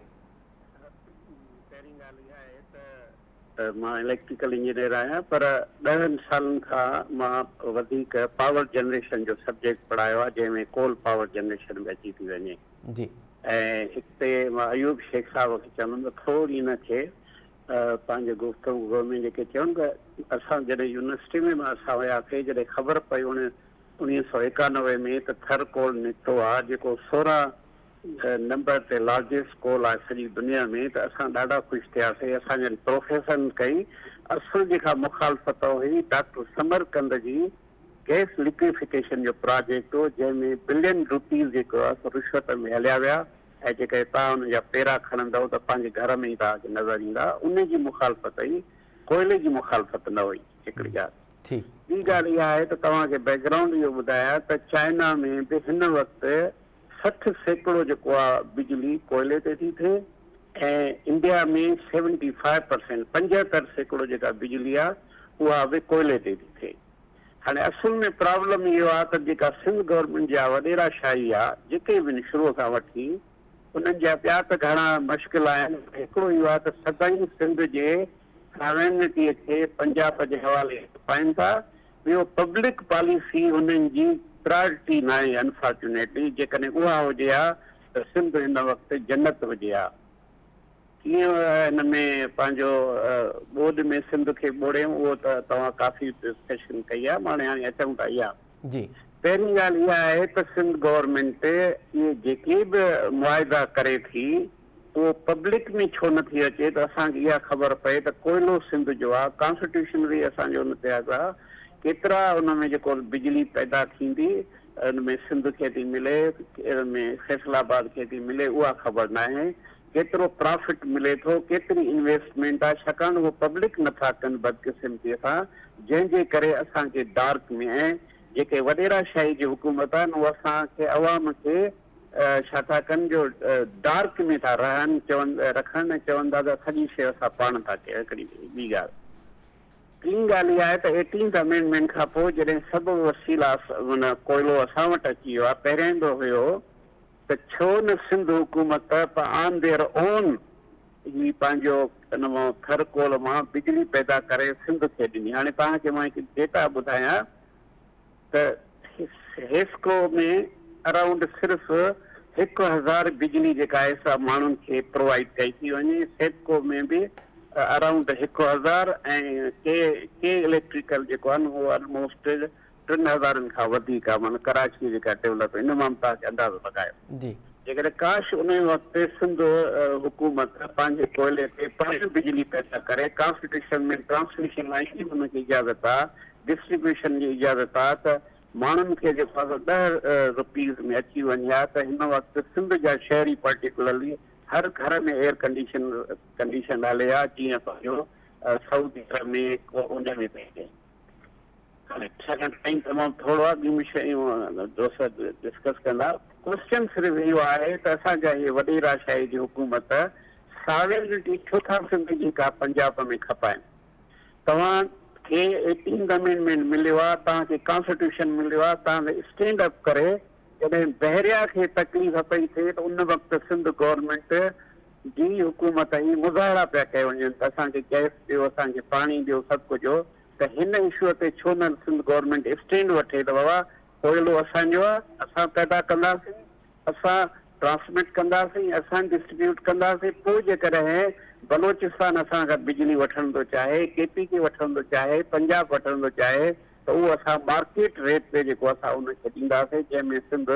پهرين ڳالهه اها آهي ته مان اليڪٽريڪل انجنيئر آهيان پر ڏهن سالن کان مان وڌيڪ پاور جنريشن جو سبجيڪٽ پڙهايو آهي جنهن ۾ ڪول پاور جنريشن به اچي ٿي وڃي جي ۽ هتي مان ايوب شيخ صاحب کي چوندم ته ٿوري هن کي پنهنجي گفتگو گو ۾ جيڪي چيون ته اسان جڏهن يونيورسٽي ۾ اسان وياسي جڏهن خبر پئي انهن انويهه سؤ ايڪانوي ۾ ته ٿر ڪول نڪتو آهي جيڪو سورهن نمبر تي لارجسٽ اسڪول آهي سڄي دنيا ۾ ته اسان ڏاڍا خوش ٿياسي اسان جن پروفيسرن ڪئي اصل جيڪا مخالفت هئي ڊاڪٽر سمرقند جي گئس لڪويفڪيشن جو پراجيڪٽ هو جنهن ۾ بلين روپيز جيڪو هئس رشوت ۾ هليا ويا ۽ جيڪڏهن توهان انهن جا پيرا کڻندؤ ته پنهنجي گهر ۾ ئي توهان کي نظر ايندا انهي جي مخالفت هئي ڪوئلي جي مخالفت نه هئي هڪڙي ڳالهه ٻي ڳالهه اها آهي ته توهان کي بيڪگرائونڊ اهو ٻڌايان ته چائنا ۾ به هن وقت سٺ سيڪڙو جيڪو آ بجلي ڪوئلي تي ٿي ٿئي ۽ انڊيا ۾ سيونٽي فائيو پرسينٽ پنجهتر سيڪڙو جيڪا بجلي آ اها به ڪوئلي تي ٿي ٿئي هاڻي اصل ۾ پرابلم اهو آ ته جيڪا سنڌ گورنمينٽ جا وڏيرا شاهي آ جيڪي به ان شروع کان وٺي انهن جا ٻيا ته گهڻا مشڪل آهن هڪڙو اهو آ ته سدائين سنڌ جي ساوينٽي کي پنجاب جي حوالي پائين ٿا ٻيو پبلڪ پاليسي انهن جي پرائرٽي ناهي انفارچونيٽلي جيڪڏهن اها هجي ها ته سنڌ هن وقت جنت هجي ها ڪيئن هن ۾ پنهنجو ٻوڏ ۾ سنڌ کي ٻوڙيون اهو ته توهان ڪافي ڊسڪشن ڪئي آهي ماڻي هاڻي اچون ٿا اها جي پهرين ڳالهه اها آهي ته سنڌ گورنمينٽ اهي جيڪي به معاهدا ڪري ٿي اهو پبلڪ ۾ ڇو نه ٿي اچي ته اسان کي اها خبر پئي ته ڪوئلو سنڌ جو آ، ڪانسٽيٽيوشن وي اسان جو ان تي آ ته ڪيترا ان ۾ جيڪو بجلي پيدا ٿيندي ان ۾ سنڌ کي ٿي ملي ان ۾ فيصل آباد کي ٿي ملي اها خبر ناهي، ڪيترو پرافٽ ملي ٿو، ڪيتري انويسٽمينٽ آ ڇاڪاڻ اهو پبلڪ نه ٿا ڪن بدقسمتي سان جنهن جي ڪري اسان کي ڊارڪ ۾ ۽ جيڪي وڏيرا شاهي جي حڪومت آ نو اسان کي عوام کي ڇا ٿا ڪن جو ڊارڪ ۾ ٿا رهن چون رکن ۽ چون ٿا ته سڄي شيء اسان پاڻ ٿا ڪيون هڪڙي ٻي ڳالهه ٽين ڳالهه اها آهي ته ايٽينٿ امينڊمينٽ کان پوء جڏهن سبب وسيلا من ڪوئلو اسان وٽ اچي ويو آهي پهرين به هيو ته ڇو نه سنڌ حڪومت آن ديئر اون هي پنهنجو ان مان ٿر ڪول مان بجلي پيدا ڪري سنڌ کي ڏني هاڻي توهان کي مان هڪ ڊيٽا ٻڌايان ته حيسڪو ۾ اراونڊ صرف هڪ هزار بجلي جيڪا آهي سا ماڻهن کي پرووائيڊ ڪئي ٿي وڃي، سيپڪو ۾ به اراونڊ هڪ هزار ۽ ڪي ڪي اليڪٽريڪل جيڪو آهي نه اهو الموسٽ ٽن هزارن کان وڌيڪ آهي معنيٰ ڪراچيء جيڪا ڊولپ ان مان به توهان کي اندازو لڳايو جيڪڏهن ڪاش ان وقت سنڌ حڪومت پنهنجي ڪوئلي تي پاڻ بجلي پيدا ڪري ڪانسٽيٽيوشن ۾ ٽرانسميشن لائين جي به ان کي اجازت آهي ڊسٽريبيوشن جي اجازت آ ته ماڻهن کي جيڪو اگهه ڏهه روپيز ۾ اچي وڃي ها ته هن وقت سنڌ جا شهري پرٽيڪولرلي هر گهر ۾ ايئر ڪنڊيشن ڪنڊيشنڊ هلي ها جيئن پنهنجو سعودي عرب ۾ ڪو ان ۾ پئي اچي هاڻي ڇاڪاڻ ٽائيم تمام ٿورو آ ٻيون شيون دوست ڊسڪس ڪندا ڪوسچن صرف اهو آهي ته اسان جا هي وڏي راشاهي جي حڪومت ساورينٽي ڇو ٿا سنڌ جي ڪا پنجاب ۾ کپائن توهان کي ايٽينٿ امينڊمينٽ مليو آ، توهان کي ڪانسٽيٽيوشن مليو آ، توهان کي اسٽينڊ اپ ڪري جڏهن بحريا کي تڪليف پئي ٿئي ته ان وقت سنڌ گورنمينٽ جي حڪومت هي مظاهرا پيا ڪيا وڃن ته اسان کي گئس ڏيو، اسان کي پاڻي ڏيو، سڀ ڪجهو ته هن اشوء تي ڇو نه سنڌ گورنمينٽ اسٽينڊ وٺي ته بابا ڪوئلو اسان جو آ، اسان پيدا ڪنداسين، اسان ٽرانسمٽ ڪنداسين، اسان ڊسٽريبيوٽ ڪنداسين، پوء جيڪڏهن بلوچستان اسان کان بجلي وٺڻ ٿو چاهي، ڪي پي ڪي وٺڻ ٿو چاهي، پنجاب وٺڻ ٿو چاهي ته اهو اسان مارڪيٽ ريٽ تي جيڪو اسان ان کي ڏينداسين جنهن ۾ سنڌ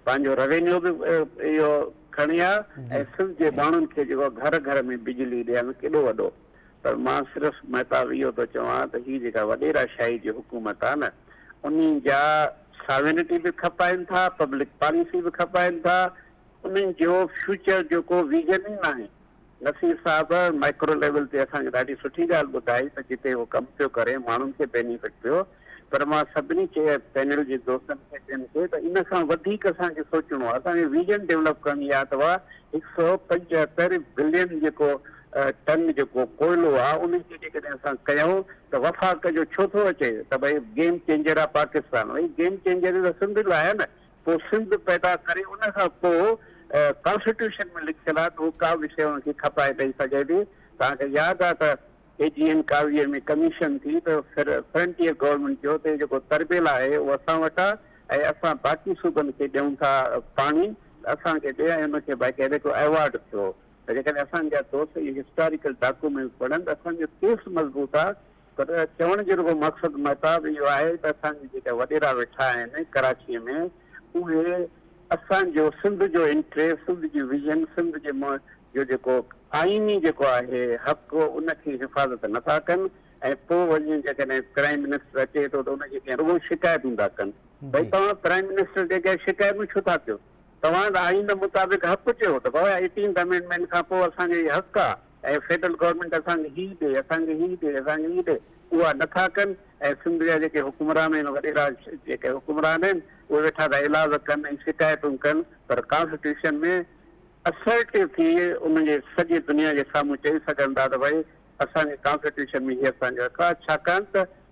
پنهنجو روينيو به اهو کڻي ها ۽ سنڌ جي ماڻهن کي جيڪو گهر گهر ۾ بجلي ڏيڻ ڪيڏو وڏو پر مان صرف محتاب اهو ٿو چوان ته هي جيڪا وڏيرا شاهي جي حڪومت آهي نه انهي جا ساوينٽي به کپائن ٿا پبلڪ پاليسي به کپائن ٿا انهن جو فيوچر جو ڪو ويزن ئي ناهي نصير صاحب مائڪرو ليول تي اسان کي ڏاڍي سٺي ڳالهه ٻڌائي ته جتي هو ڪم پيو ڪري ماڻهن کي بينيفٽ پيو پر مان سڀني کي پينل جي دوستن کي ٻين کي ته ان کان وڌيڪ اسان کي سوچڻو آهي اسان کي ويزن ڊيولپ ڪرڻي آهي ته اها هڪ سئو پنجهتر بلين جيڪو ٽن جيڪو ڪوئلو آهي ان کي جيڪڏهن اسان ڪيون ته وفاق جو ڇو ٿو اچي ته ڀئي گيم چينجر آهي پاڪستان ڀئي گيم چينجر ته سنڌ لاء آهي نه پوء سنڌ پيدا ڪري ان کان پوء ڪانسٽيٽيوشن ۾ لکيل آهي ته اهو ڪا به شيء ان کي کپائي پئي سگهي ٿي توهان کي ياد آهي ته اي جي اين ڪاوڙيء ۾ ڪميشن ٿي ته فرنٽيئر گورنمينٽ جو تي جيڪو تربيل آهي اهو اسان وٽ آ ۽ اسان باقي صوبن کي ڏيون ٿا پاڻي ته اسان کي ڏي ۽ ان کي باقاعده هڪڙو ايوارڊ ٿيو ته جيڪڏهن اسان جا دوست اهي هسٽاريڪل ڊاڪومينٽس پڙهن ته اسان جو ڪيس مضبوط آ پر چوڻ جو رڳو مقصد مهتاب اهو آهي ته اسان جي جيڪا وڏيرا ويٺا آهن ڪراچيء ۾ اهي اسان جو سنڌ جو انٽريسٽ، سنڌ جي ويزن، سنڌ جي م جو جيڪو آئيني جيڪو آهي حق ان کي حفاظت نه ٿا ڪن ۽ پو وڃي جيڪڏهن پرائيم منسٽر اچي ٿو ته ان جي اڳيان رڳو شڪايتون ٿا ڪن. ڀئي توهان پرائيم منسٽر جي اڳيان شڪايتون ڇو ٿا ڪيو؟ توهان ته آئين مطابق حق چيو ته بابا ايٽينٿ امينڊمينٽ کان پو اسان جو هي حق آ. ۽ فيڊرل گورنمينٽ اسان کي هي ڏي، اسان کي هي ڏي، اسان کي هي ڏي، اها نٿا ڪن ۽ سنڌ جا جيڪي حڪمران آهن، وڏيرا جيڪي حڪمران آهن، اهي ويٺا ٿا ايلاز ڪن ۽ شڪايتون ڪن، پر ڪانسٽيٽيوشن ۾ اسرٽيو ٿي ان جي سڄي دنيا جي سامهون چئي سگهن ٿا ته ڀائي اسان جي ڪانسٽيٽيوشن ۾ هي اسان جو حق آهي، ڇاڪاڻ ته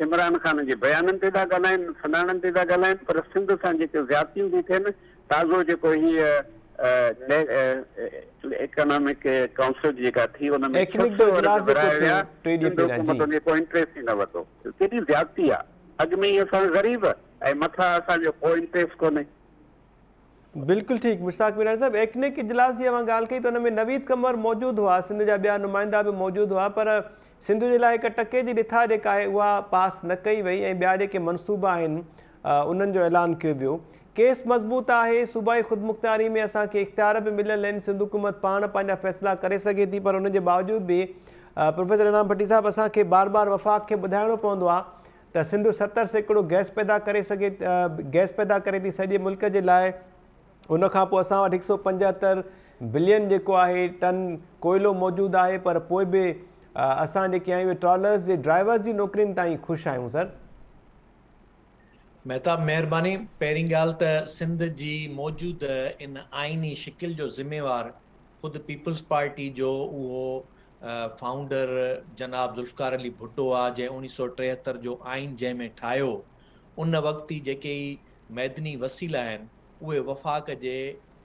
عمران خان جي بيانن تي ٿا ڳالهائين، سڃاڻن تي ٿا ڳالهائين پر سنڌ سان جيڪي زيادتيون ٿي ٿين تازو جيڪو هي ايڪنامڪ ڪائونسل جيڪا ٿي ان ۾ ڇهه سؤ ارب ورهايا ويا سنڌ حڪومت ان جو ڪو انٽريسٽ ئي نه ورتو ڪيڏي زيادتي آ اڳ ۾ ئي اسان غريب ۽ مٿان اسان جو ڪو انٽريسٽ ڪونهي. بلڪل ٺيڪ مشتاق ميراڻي صاحب ايڪنڪ اجلاس جي اوهان ڳالهه ڪئي ته ان ۾ نويد قمر موجود هئا سنڌ جا ٻيا نمائندا به موجود هئا پر سنڌ جي لاء هڪ ٽڪي جي رٿا جيڪا آهي اها پاس نه ڪئي وئي ۽ ٻيا جيڪي منصوبا آهن انهن جو اعلان ڪيو ويو ڪيس مضبوط آهي صوبائي خودمختياري ۾ اسان کي اختيار به مليل آهن سنڌ حڪومت پاڻ پنهنجا فيصلا ڪري سگهي ٿي پر ان جي باوجود به پروفيسر انعام ڀٽي صاحب اسان کي بار بار وفاق کي ٻڌائڻو پوندو آهي ته سنڌ ستر سيڪڙو گئس پيدا ڪري سگهي گئس پيدا ڪري ٿي سڄي ملڪ جي لاء ان کان پوء اسان وٽ هڪ سؤ پنجهتر بلين جيڪو آهي ٽن ڪوئلو موجود آهي پر پوء به اسان جيڪي آهيون اهي ٽرالرس جي ڊرائيورس جي نوڪرين تان ئي خوش آهيون سر مهتاب مهرباني پهرين ڳالهه ته سنڌ جي موجوده ان آئيني شڪل جو ذميوار خود پيپلز پارٽي جو اهو فائونڊر جناب ذوالفقار علي ڀٽو آ جنهن اڻيهه سؤ ٽيهتر جو آئين جنهن ۾ ٺاهيو ان وقت ئي جيڪي هي معدني وسيلا آهن اهي وفاق جي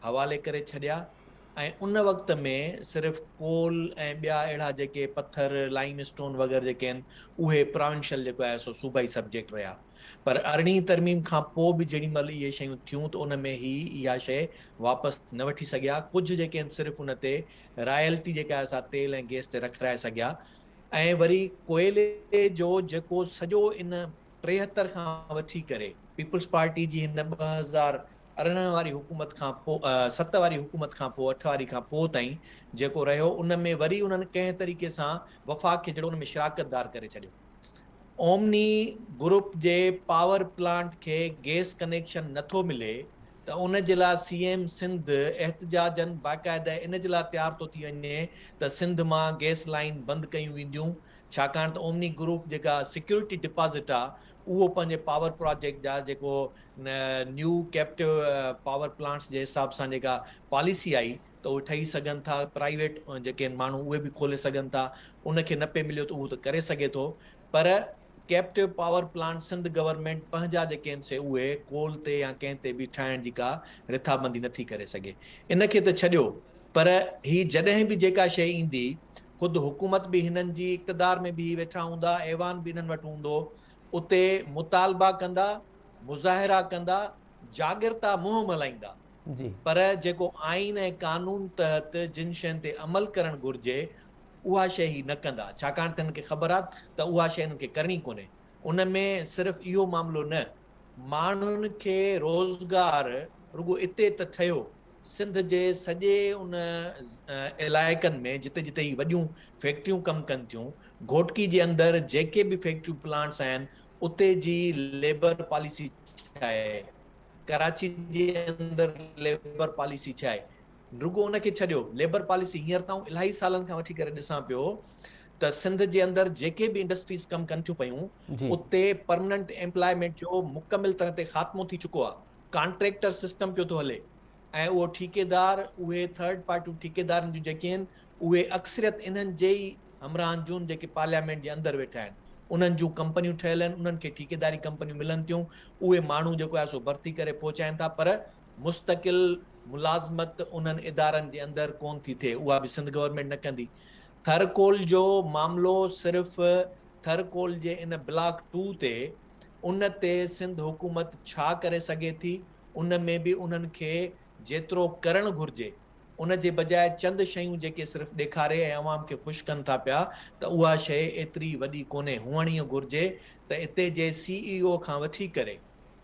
حوالي ڪري ڇڏيا ۽ ان وقت ۾ صرف ڪول ۽ ٻيا اهڙا جيڪي پٿر لائيم اسٽون وغيره جيڪي آهن اهي پراونشل جيڪو آهي سو صوبائي سبجيڪٽ رهيا پر ارڙهين ترميم کان پوء به جيڏي مهل اهي شيون ٿيون ته ان ۾ هي اها شيء واپس نه وٺي سگهيا ڪجهه جيڪي آهن صرف ان تي رائلٽي جيڪا اسان تيل ۽ گيس تي رکرائي سگهيا ۽ وري ڪوئلي جو جيڪو سڄو ان ٽيهتر کان وٺي ڪري پيپلز پارٽي جي هن ٻه هزار ارڙهن واري حڪومت کان پو ست واري حڪومت کان پو اٺ واري کان پو تائين جيڪو رهيو ان ۾ وري انهن ڪنهن طريقي سان وفاق کي جهڙو ان ۾ شراڪت دار ڪري ڇڏيو اومني گروپ جي پاور پلانٽ کي گيس ڪنيڪشن نٿو ملي ته ان جي لاء سي ايم سنڌ احتجاجن باقاعده ان جي لاء تيار ٿو ٿي وڃي ته سنڌ مان گئس لائين بند ڪيون وينديون ڇاڪاڻ ته اومني گروپ جيڪا سيڪيورٽي ڊپازٽ آ اهو پنهنجي پاور پراجيڪٽ جا جيڪو نيو ڪيپٽو پاور پلانٽس جي حساب سان جيڪا پاليسي آئي ته اهي ٺهي سگهن ٿا پرائيويٽ جيڪي ماڻهو اهي به کولي سگهن ٿا ان کي نه پئي مليو ته اهو ته ڪري سگهي ٿو پر captive power plant Sindh government پنهنجا جي ڪين سي اهي ڪول تي يا ڪنهن تي به ٺاهڻ جي ڪا رٿابندي نٿي ڪري سگهي ان کي ته ڇڏيو پر هي جڏهن به جيڪا شيء ايندي خود حڪومت به هنن جي اقتدار ۾ بيهي ويٺا هوندا ايوان به انهن وٽ هوندو اتي مطالبا ڪندا مظاهرا ڪندا جاڳرتا مهم هلائيندا پر جيڪو آئين ۽ قانون تحت جن شين تي عمل ڪرڻ گهرجي اها شيء هي نه ڪندا، ڇاڪاڻ ته هنن کي خبر آ ته اها شيء هنن کي ڪرڻي ڪونهي. ان ۾ صرف اهو معاملو نه، ماڻهن کي روزگار رڳو اتي ته ٺهيو، سنڌ جي سڄي ان علائقن ۾ جتي جتي هي وڏيون فيڪٽريون ڪم ڪن ٿيون، گهوٽڪي جي اندر جيڪي به فيڪٽريون پلانٽس آهن، اتي جي ليبر پاليسي ڇا آهي، ڪراچي جي اندر ليبر پاليسي ڇا آهي، رڳو ان کي ڇڏيو ليبر پاليسي هينئر نه آئون الاهي سالن کان وٺي ڪري ڏسان پيو ته سنڌ جي اندر جيڪي به انڊسٽريز ڪم ڪن ٿيون پيون اتي پرمننٽ ايمپلائمينٽ جو مڪمل طرح تي خاتمو ٿي چڪو آهي ڪانٽريڪٽر سسٽم پيو ٿو هلي ۽ اهو ٺيڪيدار اهي ٿرڊ پارٽيون ٺيڪيدارن جون جيڪي آهن اهي اڪثريت انهن جي ئي همراهن جون جيڪي پارليامينٽ جي اندر ويٺا آهن انهن جون ڪمپنيون ٺهيل آهن انهن کي ٺيڪيداري ڪمپنيون ملن ٿيون اهي ماڻهو جيڪو آهي سو ڀرتي ڪري پهچائين ٿا پر مستقل ملازمت انهن ادارن جي اندر ڪون ٿي ٿئي اها به سنڌ گورنمينٽ نه ڪندي، ٿر ڪول جو معاملو صرف ٿر ڪول جي ان بلاڪ ٽو تي ان تي سنڌ حڪومت ڇا ڪري سگهي ٿي ان ۾ به انهن کي جيترو ڪرڻ گهرجي ان جي بجاء چند شيون جيڪي صرف ڏيکاري ۽ عوام کي خوش ڪن ٿا پيا ته اها شئي ايتري وڏي ڪونهي هئڻ اهي گهرجي ته اتي جي سي اي او کان وٺي ڪري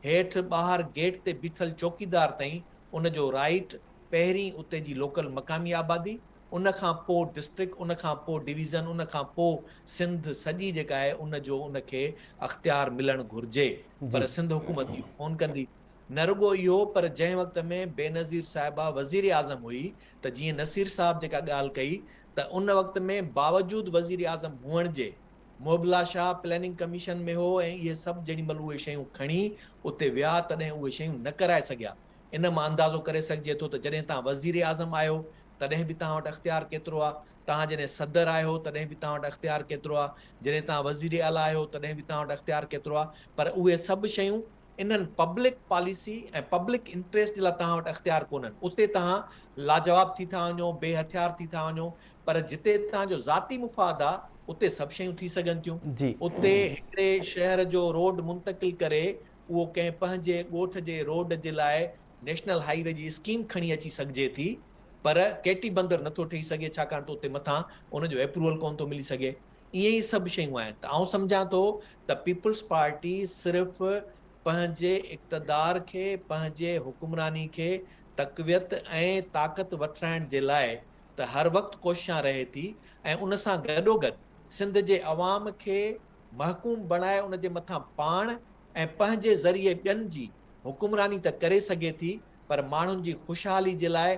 هيٺ ٻاهر گيٽ تي بيٺل چوڪيدار تائين ان جو رائيٽ، پهرين اتي جي لوڪل مقامي آبادي، ان کان پوء ڊسٽرڪٽ، ان کان پوء ڊويزن، ان کان پوء سنڌ سڄي جيڪا آهي ان جو ان کي اختيار ملڻ گهرجي پر سنڌ حڪومت اهو ڪونه ڪندي. نه رڳو اهو پر جنهن وقت ۾ بينظير صاحبه وزيراعظم هئي ته جيئن نصير صاحب جيڪا ڳالهه ڪئي ته ان وقت ۾ باوجود وزيراعظم هئڻ جي، محبلا شاهه پليننگ ڪميشن ۾ هو ۽ اهي سڀ جيڏي مهل اهي شيون کڻي اتي ويا تڏهن اهي شيون نه ڪرائي سگهيا. ان مان اندازو ڪري سگهجي ٿو ته جڏهن توهان وزير اعظم آهيو تڏهن به توهان وٽ اختيار ڪيترو آ، توهان جڏهن صدر آهيو تڏهن به توهان وٽ اختيار ڪيترو آ، جڏهن توهان وزير اعليٰ آهيو تڏهن به توهان وٽ اختيار ڪيترو آ پر اهي سڀ شيون انهن پبلڪ پاليسي ۽ پبلڪ انٽريسٽ جي لاء توهان وٽ اختيار ڪونهن، اتي توهان لاجواب ٿي ٿا وڃو، بي هٿيار ٿي ٿا وڃو، پر جتي توهان جو ذاتي مفاد آ، اتي سڀ شيون ٿي سگهن ٿيون. جي. اتي هڪڙي شهر جو روڊ منتقل ڪري، اهو ڪنهن پنهنجي ڳوٺ جي روڊ جي لاء نيشنل هائي وي جي اسڪيم کڻي اچي سگهجي ٿي، پر ڪيٽي بندر نٿو ٺهي سگهي، ڇاڪاڻ ته اتي مٿان ان جو ايپروول ڪونه ٿو ملي سگهي. اهي ئي سڀ شيون آهن ته آئون سمجهان ٿو ته پيپلز پارٽي صرف پنهنجي اقتدار کي، پنهنجي حڪمراني کي تقويت ۽ طاقت وٺرائڻ جي لاء ته هر وقت ڪوششان رهي ٿي ۽ ان سان گڏوگڏ سنڌ جي عوام کي محڪوم بڻائي ان جي مٿان پاڻ ۽ پنهنجي ذريعي ٻين جي حڪمراني ته ڪري سگهي ٿي پر ماڻهن جي خوشحالي جي لاء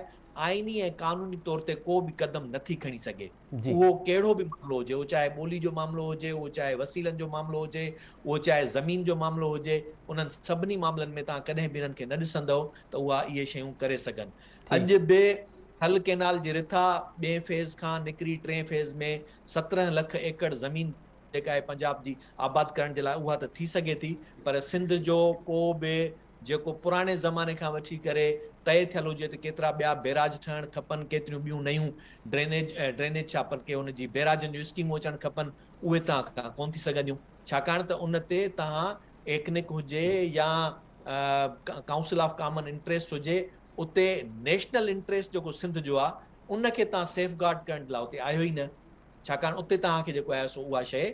آئيني ۽ قانوني طور تي ڪو به قدم نٿي کڻي سگهي. اهو ڪهڙو به معاملو هجي، اهو چاهي ٻولي جو معاملو هجي، اهو چاهي وسيلن جو معاملو هجي، اهو چاهي زمين جو معاملو هجي، انهن سڀني معاملن ۾ توهان ڪڏهن به انهن کي نه ڏسندؤ ته اها اهي شيون ڪري سگهن. اڄ به ٿل ڪئنال جي رٿا ٻئين فيز کان نڪري ٽئين فيز ۾ سترهن لک ايڪڙ زمين جيڪا آهي پنجاب جي آباد ڪرڻ جي لاء اها ته ٿي سگهي ٿي پر سنڌ جو ڪو به جيڪو پراڻي زماني کان وٺي ڪري طئي ٿيل هجي ته ڪيترا ٻيا بيراج ٺهڻ کپن، ڪيتريون ٻيون نيون ڊرينيج ڊرينيج ڇا پر ڪي ان جي بيراجن جون اسڪيمون اچڻ کپن، اهي تان کان ڪونه ٿي سگهنديون، ڇاڪاڻ ته ان تي تان ايڪنڪ هجي يا ڪائونسل آف ڪامن انٽريسٽ هجي، اتي نيشنل انٽريسٽ جيڪو سنڌ جو آ، ان کي تان سيف گارڊ ڪرڻ لاء اتي آهيو ئي نه. ڇاڪاڻ اتي توهان کي جيڪو آهي سو اها شيء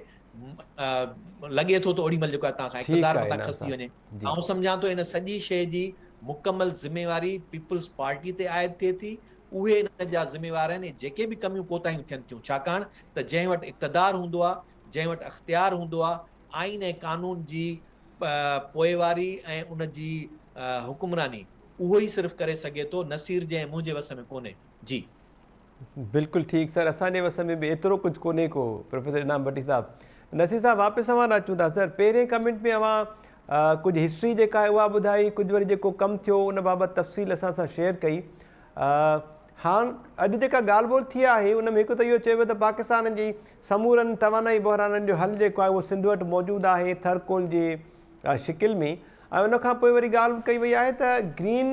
لڳي ٿو ته اوڏي مهل جيڪو آهي توهان کان اقتدار مٿان کسجي وڃي آئون سمجهان ٿو ان سڄي شيء جي مڪمل ذميواري پيپلز پارٽي تي عائد ٿئي ٿي اهي ان جا ذميوار آهن ۽ جيڪي به ڪميون ڪوتاهيون ٿين ٿيون ڇاڪاڻ ته جنهن وٽ اقتدار هوندو آهي جنهن وٽ اختيار هوندو آهي آئين ۽ قانون جي پوئواري ۽ ان جي حڪمراني اهو ئي صرف ڪري سگهي ٿو نصير جي ۽ منهنجي وس ۾ ڪونهي جي بلڪل ٺيڪ سر اسان جي وس ۾ به ايترو ڪجھ ڪونهي ڪو پروفيسر انعام بٽي صاحب نصير صاحب واپس اوهان ڏانهن اچون ٿا سر پهرين ڪمينٽ ۾ اوهان ڪجھ هسٽري جيڪا آهي اها ٻڌائي ڪجھ وري جيڪو ڪم ٿيو ان بابت تفصيل اسان سان شيئر ڪئي هاڻ اڄ جيڪا ڳالھ ٻولھ ٿي آهي ان ۾ هڪ ته اهو چيو ته پاڪستان جي سمورن توانائي بحرانن جو حل جيڪو آهي اهو سنڌ وٽ موجود آهي ٿرڪول جي شڪل ۾ ۽ ان کان پوء وري ڳالھ ڪئي وئي آهي ته گرين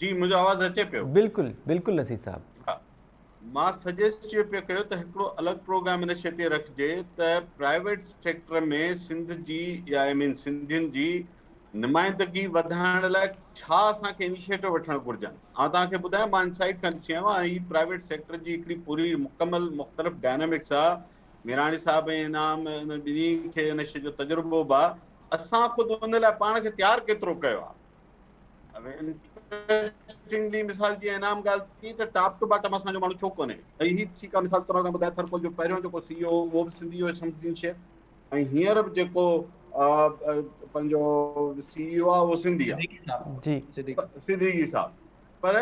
جي منهنجو آواز اچي پيو. بلڪل بلڪل نصير صاحب. ها مان سجيسٽ چيو پيو ڪيو ته هڪڙو الڳ پروگرام ان شي تي رکجي ته پرائيويٽ سيڪٽر ۾ سنڌ جي يا آئي مين سنڌين جي نمائندگي وڌائڻ لاء ڇا اسان کي انيشيٽو وٺڻ گهرجن آئون توهان کي ٻڌايان مان انسائيٽ کان ڏسي آيو آهيان هي پرائيويٽ سيڪٽر جي هڪڙي پوري مڪمل مختلف ڊائنامڪس آ ميراڻي صاحب ۽ انعام ان ٻنهي کي ان شي جو تجربو به آ اسان خود ان لاء پاڻ کي تيار ڪيترو ڪيو آ انٽريسٽنگلي مثال جي انعام ڳالهه ٿي ته ٽاپ ٽو باٽم اسان جو ماڻهو ڇو ڪونهي ۽ هي ٺيڪ آهي مثال طور تان ٻڌايو ٿرپول جو پهريون جيڪو سي او اهو به سنڌي هو سمجھين شيء ۽ هينئر به جيڪو پنهنجو سي او آهي اهو سنڌي آهي صديقي صاحب پر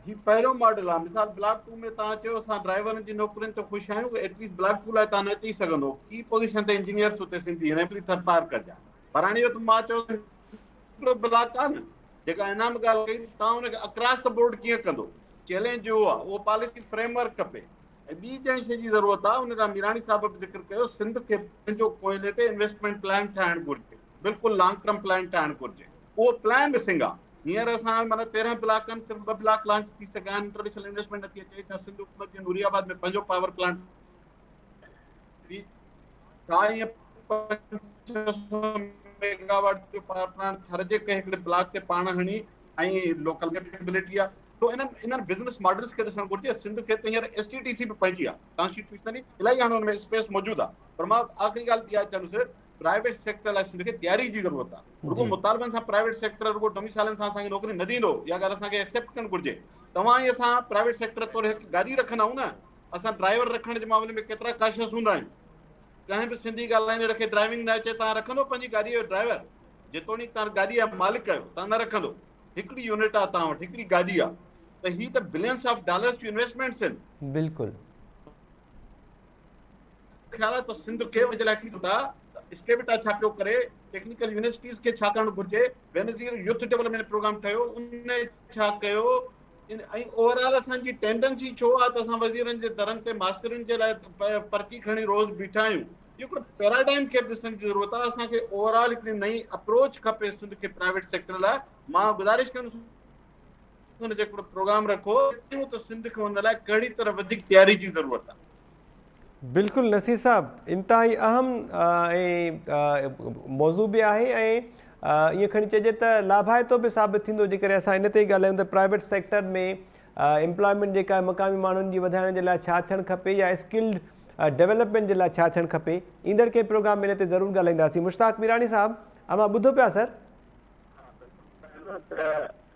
هي پهريون ماڊل آهي مثال بلاڪ ٽو ۾ تان چيو اسان ڊرائيورن جي نوڪرين ته خوش آهيون ايٽليسٽ بلاڪ ٽو لاء تان اچي سگھندو ڪي پوزيشن تي انجنيئرس اتي سنڌي هن ڪري ٿرپار ڪجا پراڻي وقت مان چيو ته هڪڙو بلاڪ آهي نه جيڪا انعام ڳالهه ڪئي توهان ان کي اڪراس ته بورڊ ڪيئن ڪندو چئلينج اهو آهي اهو پاليسي فريم ورڪ کپي ۽ ٻي جنهن شيء جي ضرورت آهي ان لاء ميراڻي صاحب به ذڪر ڪيو سنڌ کي پنهنجو ڪوئلي تي انويسٽمينٽ پلان ٺاهڻ گهرجي بلڪل لانگ ٽرم پلان ٺاهڻ گهرجي اهو پلان مسنگ آهي هينئر اسان مطلب تيرهن بلاڪن صرف ٻه بلاڪ لانچ ٿي سگهيا آهن انٽرنيشنل انويسٽمينٽ نٿي اچي سنڌ حڪومت جي نوري آباد ۾ پنهنجو پاور پلانٽ ڪائين ميگا واٽ جو پاور پلانٽ ٿر جي ڪنهن هڪڙي بلاڪ تي پاڻ هڻي ۽ لوڪل ڪيپيبلٽي آ تو انهن انهن بزنس ماڊلز کي ڏسڻ گهرجي سنڌ کي ته هينئر ايس ٽي ٽي سي به پنهنجي آ ڪانسٽيٽيوشنلي الاهي هاڻي ان ۾ اسپيس موجود آ پر مان آخري ڳالهه ٻي آ چوندس پرائيويٽ سيڪٽر لاء سنڌ کي تياري جي ضرورت آ رڳو مطالبن سان پرائيويٽ سيڪٽر رڳو ڊوميسائلن سان اسان کي نوڪري نه ڏيندو اها ڳالهه اسان کي ايڪسيپٽ ڪرڻ گهرجي توهان ۽ اسان پرائيويٽ سيڪٽر طور هڪ گاري رکندا آهيون نه اسان ڊرائيور رکڻ جي معاملي ۾ ڪيترا ڪاشس هوندا آهيون. ڪنهن به سنڌي ڳالهائيندڙ کي ڊرائيونگ نه اچي تان رکندو پنهنجي گاڏيء جو ڊرائيور؟ جيتوڻيڪ تان گاڏيء جا مالڪ آهيو تان نه رکندو. هڪڙي يونٽ آ تان وٽ هڪڙي گاڏي آ ته هي ته بلينس آف ڊالرس جون انويسٽمينٽس هن. بلڪل. خيال آهي ته سنڌ کي ان جي لاء ڪجهه ڪندا ته اسٽيبٽا ڇا پيو ڪري، ٽيڪنيڪل يونيورسٽيز کي ڇا ڪرڻ گهرجي، بينظير يوٿ ڊيولپمينٽ پروگرام ٺهيو ان ڇا ڪيو ۽ اوور آل اسان جي ٽينڊنسي ڇو آهي ته اسان وزيرن جي درن تي ماسترين جي لاء پرچي کڻي روز بيٺا آهيون اهو هڪڙو پيراڊائم کي به ڏسڻ جي ضرورت آهي اسان کي اوور آل هڪڙي نئين اپروچ کپي سنڌ کي پرائيويٽ سيڪٽر لاء مان گذارش ڪندس ان جو هڪڙو پروگرام رکو ته سنڌ کي ان لاء ڪهڙي طرح وڌيڪ تياري جي ضرورت آهي بلڪل نصير صاحب انتهائي اهم موضوع به آهي ۽ ايئن کڻي چئجي ته لاڀائتو به ثابت ٿيندو جيڪڏهن اسان ان تي ئي ڳالهايون ته پرائيويٽ سيڪٽر ۾ امپلائمينٽ جيڪا مقامي ماڻهن جي وڌائڻ جي لاء ڇا ٿيڻ کپي يا اسڪلڊ ڊيولپمينٽ جي لاء ڇا ٿيڻ کپي ايندڙ ڪنهن پروگرام ۾ ان تي ضرور ڳالهائينداسين مشتاق ميراڻي صاحب اوهان ٻڌو پيا سر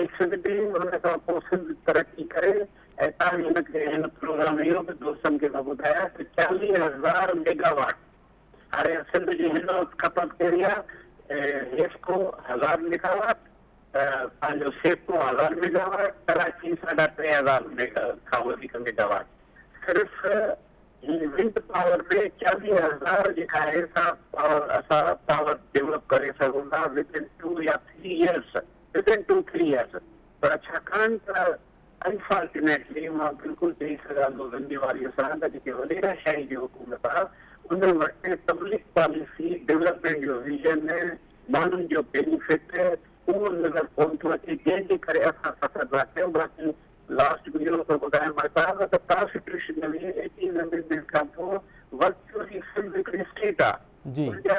ايڪسنٽ ٽي ان کان پوء سنڌ ترقي ڪري ۽ تان هن کي هن پروگرام اهو به دوستن کي مان ٻڌايا ته چاليهه هزار ميگا واٽ هاڻي سنڌ جي هن وقت کپت ڪهڙي آهي حيفڪو هزار ميگا واٽ پنهنجو سيفڪو هزار ميگا واٽ ڪراچي ساڍا ٽي هزار ميگا کان وڌيڪ ميگا واٽ صرف هي ونڊ پاور ۾ چاليهه هزار جيڪا آهي سا پاور اسان پاور ڊيولپ ڪري سگهون ٿا ود ان ٽو يا three years within two three years پر ڇاڪاڻ ته انفارچونيٽلي مان بلڪل چئي سگهان ٿو ذميواريء سان ته جيڪي وڏيرا شاهي جي حڪومت آ ان وٽ پبلڪ پاليسي ڊولپمينٽ جو ويزن ماڻهن جو بينيفٽ اهو نظر ڪون ٿو اچي جنهن جي ڪري اسان سفر نه ڪيو باقي لاسٽ ۾ اهو ٿو ٻڌايان مهتاب ته ڪانسٽيٽيوشنلي ايٽين امينڊمينٽ کان پوء ورچوئلي سنڌ هڪڙي اسٽيٽ آ جي ان جا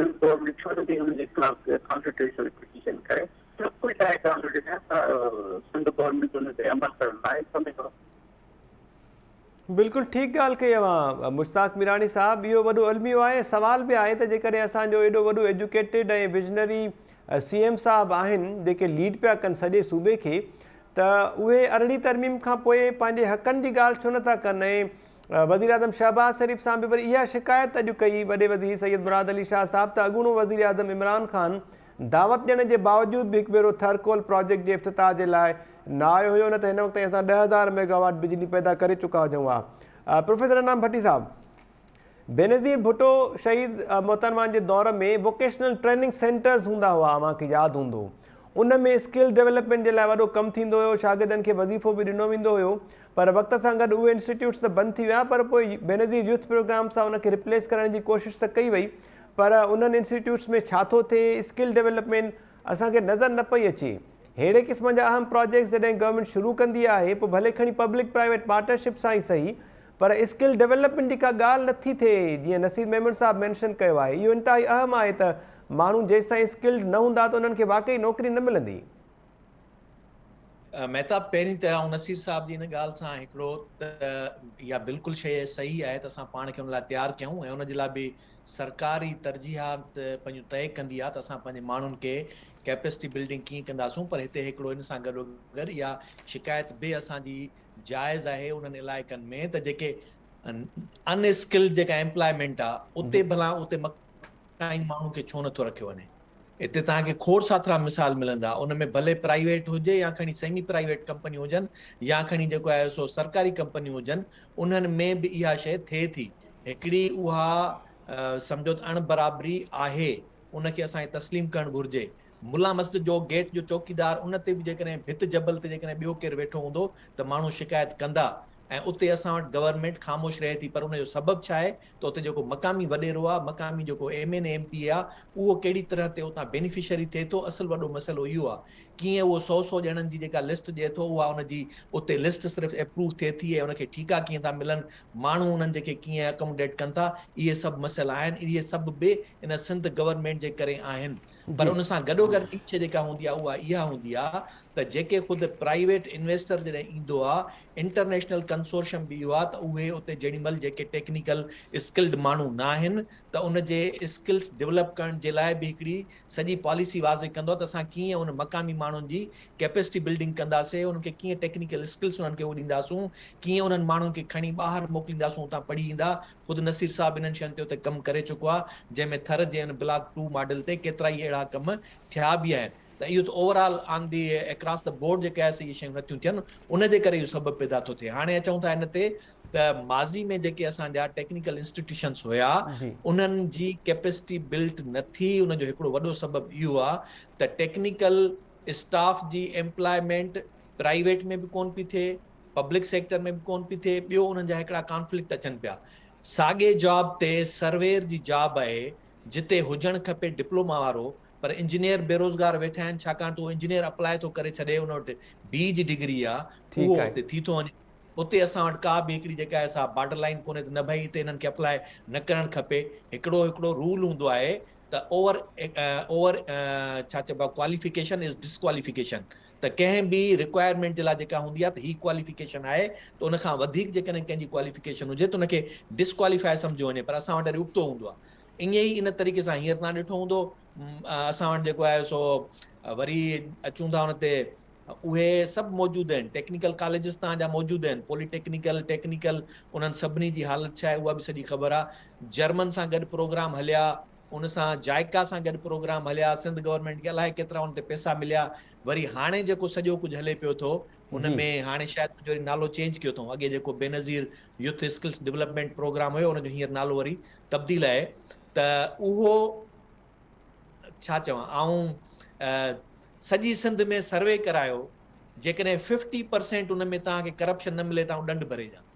سنڌ بورڊ ۾ ڇو نٿي انهن جي خلاف ڪانسٽيٽيوشنل پٽيشن ڪري سڀ ڪجهه آهي ڪانگريس جي هٿ سنڌ گورنمينٽ کي ان تي عمل ڪرڻ لاء سمي ٿو بلڪل ٺيڪ ڳالهه ڪئي اوهان مشتاق ميراڻي صاحب اهو وڏو الميو آهي ۽ سوال به آهي ته جيڪڏهن اسان جو ايڏو وڏو ايجوڪيٽيڊ ۽ ويجنري سي ايم صاحب آهن جيڪي ليڊ پيا ڪن سڄي صوبي کي ته اهي ارڙهين ترميم کان پوء پنهنجي حقن جي ڳالهه ڇو نٿا ڪن ۽ وزيراعظم شهباز شريف سان به وري اها شڪايت اڄ ڪئي وڏي وزير سيد مراد علي شاهه صاحب ته اڳوڻو وزيراعظم عمران خان دعوت ڏيڻ جي باوجود به هڪ ڀيرو ٿر ڪول پراجيڪٽ جي افتتاح جي لاء نه آيو هيو نه ته هن وقت تائين اسان ڏهه هزار ميگاواٽ بجلي پيدا ڪري چڪا هجون ها پروفيسر انعام ڀٽي صاحب بينظير ڀٽو شهيد محترمان جي دور ۾ ووڪيشنل ٽريننگ سينٽرز هوندا هئا اوهان کي ياد هوندو ان ۾ اسڪل ڊيولپمنٽ جي لاء وڏو ڪم ٿيندو هيو شاگردن کي وظيفو به ڏنو ويندو هيو پر وقت سان گڏ اهي انسٽيٽيوٽس ته بند ٿي ويا پر پوء بينظير يوٿ پروگرام سان ان کي ريپليس ڪرڻ جي ڪوشش ته ڪئي وئي پر انهن انسٽيٽيوٽس ۾ ڇا ٿو ٿئي اسڪل ڊيولپمينٽ اسان کي نظر نه پئي اچي ههڙي قسم جا اهم پراجيڪٽس جڏهن گورنمينٽ شروع ڪندي آهي پوء ڀلي کڻي پبلڪ پرائيويٽ پارٽنرشپ سان ئي صحيح پر اسڪل ڊيولپمينٽ جي ڪا ڳالهه نه ٿي ٿئي جيئن نصير ميمڻ صاحب مينشن ڪيو آهي اهو انتهائي اهم آهي ته ماڻهو جيستائين اسڪلڊ نه هوندا ته انهن کي واقعي نوڪري نه ملندي مهتاب پهرين ته آئون نصير صاحب جي ان ڳالهه سان هڪڙو ته اها بلڪل شيء صحيح آهي ته اسان پاڻ کي ان لاء تيار ڪيون ۽ ان جي لاء به سرڪار ئي ترجيحات پنهنجون طئي ڪندي آهي ته اسان پنهنجي ماڻهن کي ڪيپسٽي بلڊنگ ڪيئن ڪنداسون پر هتي هڪڙو ان سان گڏوگڏ اها شڪايت به اسان جي جائز آهي انهن علائقن ۾ ته جيڪي ان اسڪلڊ جيڪا ايمپلائمينٽ آهي اتي ڀلا اتي تائين ماڻهو کي ڇو نٿو رکيو وڃي. هتي توهان کي کوڙ ساٿرا مثال ملندا، ان ۾ ڀلي پرائيويٽ هجي يا کڻي سيمي پرائيويٽ ڪمپنيون هجن يا کڻي جيڪو آهي سو سرڪاري ڪمپنيون هجن، انهن ۾ به اها شيء ٿئي ٿي. هڪڙي اها سمجهو ته اڻ برابري آهي، ان کي اسان کي تسليم ڪرڻ گهرجي. ملا مسجد جو گيٽ جو چوڪيدار، ان تي به جيڪڏهن ڀت جبل تي جيڪڏهن ٻيو ڪير ويٺو هوندو ته ماڻهو شڪايت ڪندا ۽ اتي اسان وٽ گورنمينٽ خاموش رهي ٿي پر ان جو سبب ڇا آهي؟ ته اتي جيڪو مقامي وڏيرو آ، مقامي جيڪو M N A M P A آ اهو ڪهڙي طرح تي اتان بينيفشري ٿئي ٿو اصل وڏو مسئلو اهو آ ڪيئن اهو سؤ سؤ ڄڻن جي جيڪا لسٽ ڏئي ٿو اها ان جي اتي لسٽ صرف ايپروو ٿئي ٿي ۽ ان کي ٺيڪا ڪيئن ٿا ملن ماڻهو انهن جي کي ڪيئن اڪاموڊيٽ ڪن ٿا اهي سڀ مسئلا آهن اهي سڀ به ان سنڌ گورنمينٽ جي ڪري آهن پر ان سان گڏوگڏ ٻي شيء جيڪا هوندي آهي اها اها هوندي آهي ته جيڪي خود پرائيويٽ انويسٽر جڏهن ايندو آهي انٽرنيشنل ڪنسورشم به اهو آهي ته اهي اتي جيڏيمهل جيڪي ٽيڪنيڪل اسڪلڊ ماڻهو نه آهن ته ان جي اسڪلس ڊولپ ڪرڻ جي لاء به هڪڙي سڄي پاليسي واضح ڪندو آهي ته اسان ڪيئن ان مقامي ماڻهن جي ڪيپيسٽي بلڊنگ ڪنداسين انهن کي ڪيئن ٽيڪنيڪل اسڪلس انهن کي اهو ڏينداسون ڪيئن انهن ماڻهن کي کڻي ٻاهر موڪلينداسون اتان پڙهي ايندا خود نصير صاحب انهن شين تي اتي ڪم ڪري چڪو آهي جنهن ۾ ٿر جي ان بلاڪ ٽو ماڊل تي ڪيترائي اهڙا ڪم ٿيا به آهن ته اهو ته overall on the across the board جيڪي آهي سي اهي شيون نٿيون ٿين ان جي ڪري اهو سبب پيدا ٿو ٿئي هاڻي اچون ٿا ان تي ته ماضي ۾ جيڪي اسان جا ٽيڪنيڪل انسٽيٽيوشنس هيا انهن جي ڪيپسٽي بلٽ نه ٿي ان جو هڪڙو وڏو سبب اهو آهي ته ٽيڪنيڪل اسٽاف جي ايمپلائمينٽ پرائيويٽ ۾ به ڪون پئي ٿئي پبلڪ سيڪٽر ۾ به ڪون پئي ٿئي، ٻيو انهن جا هڪڙا ڪانفلڪٽ اچن پيا. ساڳي جاب تي سرويئر جي جاب آهي جتي هجڻ کپي ڊپلوما وارو پر انجنيئر بيروزگار ويٺا آهن ڇاڪاڻ ته اهو انجنيئر اپلائي ٿو ڪري ڇڏي ان وٽ بي جي ڊگري آ اهو اتي ٿي ٿو وڃي اتي اسان وٽ ڪا به هڪڙي جيڪا آهي سا بارڊر لائين ڪونهي ته نه ڀئي اتي انهن کي اپلائي نه ڪرڻ کپي هڪڙو هڪڙو رول هوندو آهي ته اوور اوور ڇا چئبو آهي ڪواليفڪيشن از ڊسڪواليفڪيشن ته ڪنهن به رڪوائرمينٽ جي لاء جيڪا هوندي آهي ته هي ڪواليفڪيشن آهي ته ان کان وڌيڪ جيڪڏهن ڪنهن جي ڪواليفڪيشن هجي ته ان کي ڊسڪواليفائي سمجهيو وڃي پر اسان وٽ وري ابتو هوندو آهي ائين ئي ان طريقي سان هينئر توهان ڏٺو هوندو اسان وٽ جيڪو آهي سو وري اچون ٿا ان تي اهي سڀ موجود آهن ٽيڪنيڪل ڪاليجز تان جا موجود آهن پولي ٽيڪنيڪل ٽيڪنيڪل انهن سڀني جي حالت ڇا آهي اها به سڄي خبر آهي جرمن سان گڏ پروگرام هليا ان سان جائيڪا سان گڏ پروگرام هليا، سنڌ گورنمينٽ کي الائي ڪيترا ان تي پئسا مليا، وري هاڻي جيڪو سڄو ڪجهه هلي پيو ٿو ان ۾ هاڻي شايد ڪجهه وري نالو چينج ڪيو اٿئون، اڳي جيڪو Benazir youth skills development program هيو ان جو هينئر نالو وري تبديل آهي ته اهو ڇا چوان آئون سڄي سنڌ ۾ سروي ڪرايو جيڪڏهن ففٽي پرسينٽ ان ۾ توهان کي ڪرپشن نه ملي ته آئون ڏنڊ ڀري ڏيان.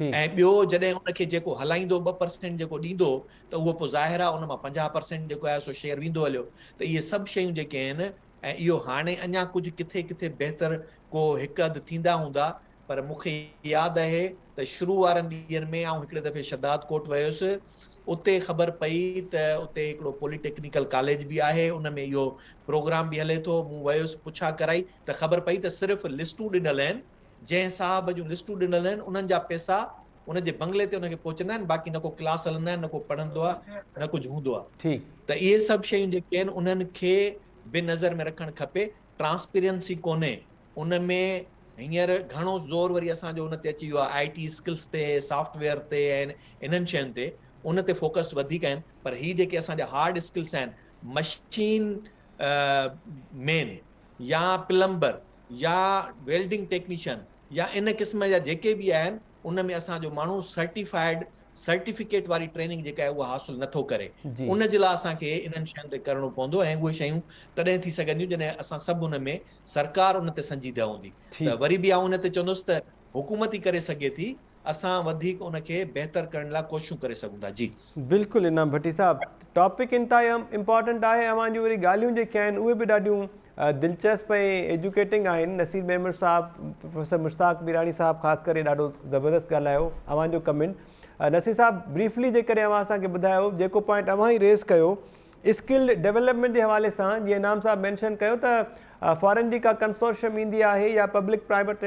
۽ ٻيو جڏهن ان کي جيڪو هلائيندو ٻه پرسينٽ جيڪو ڏيندو ته اهو پوء ظاهر آهي ان مان پنجاهه پرسينٽ جيڪو آهي سو شيئر ويندو هليو ته اهي سڀ شيون جيڪي آهن ۽ اهو هاڻي اڃا ڪجهه ڪٿي ڪٿي بهتر ڪو هڪ اڌ ٿيندا هوندا پر مون کي ياد اهي ته شروع وارن ڏينهن ۾ آئون هڪڙي دفعي شداد ڪوٽ ويس اتي خبر پئي ته اتي هڪڙو پولي ٽيڪنيڪل ڪاليج به آهي ان ۾ اهو پروگرام به هلي ٿو مون ويس پڇا ڪرائي ته خبر پئي ته صرف لسٽون ڏنل آهن جنهن صاحب جون لسٽون ڏنل آهن انهن جا پئسا ان جي بنگلي تي ان کي پهچندا آهن باقي نه ڪو ڪلاس هلندا آهن نه ڪو پڙهندو آهي نه ڪجهه هوندو آهي ته اهي سڀ شيون جيڪي آهن انهن کي به نظر ۾ رکڻ کپي ٽرانسپيرنسي ڪونهي ان ۾ هينئر گهڻو زور وري اسان جو ان تي اچي ويو آهي آئي ٽي اسڪلس تي سافٽ ويئر تي ۽ انهن شين تي ان تي فوڪسڊ وڌيڪ آهن پر هي جيڪي اسان جا هارڊ اسڪلس آهن مشين مين يا پلمبر يا ويلڊنگ ٽيڪنيشن يا ان قسم جا جيڪي به آهن ان ۾ اسان جو ماڻهو سرٽيفائيڊ سرٽيفڪيٽ واري ٽريننگ جيڪا آهي اها حاصل نٿو ڪري ان جي لاء اسان کي انهن شين تي ڪرڻو پوندو ۽ اهي شيون تڏهن ٿي سگهنديون جڏهن اسان سڀ ان ۾ سرڪار ان تي سنجيده هوندي ته وري به آئون ان تي چوندس ته حڪومت ئي ڪري سگهي ٿي اسان وڌيڪ ان کي بهتر ڪرڻ لاء ڪوششون ڪري سگهون ٿا جي بلڪل انعام ڀٽي صاحب ٽاپڪ انتهائي امپارٽنٽ آهي اوهان جون وري ڳالهيون جيڪي آهن اهي به ڏاڍيون دلچسپ ۽ ايجوڪيٽنگ آهن نصير ميمڻ صاحب پروفيسر مشتاق ميراڻي صاحب خاص ڪري ڏاڍو زبردست ڳالهايو اوهان جو ڪمنٽ نصير صاحب بريفلي جيڪڏهن اوهان اسان کي ٻڌايو جيڪو پوائنٽ اوهان ئي ريز ڪيو اسڪلڊ ڊيولپمنٽ جي حوالي سان جيئن انعام صاحب مينشن ڪيو ته فارن جي ڪا ڪنسورشم ايندي آهي يا پبلڪ پرائيويٽ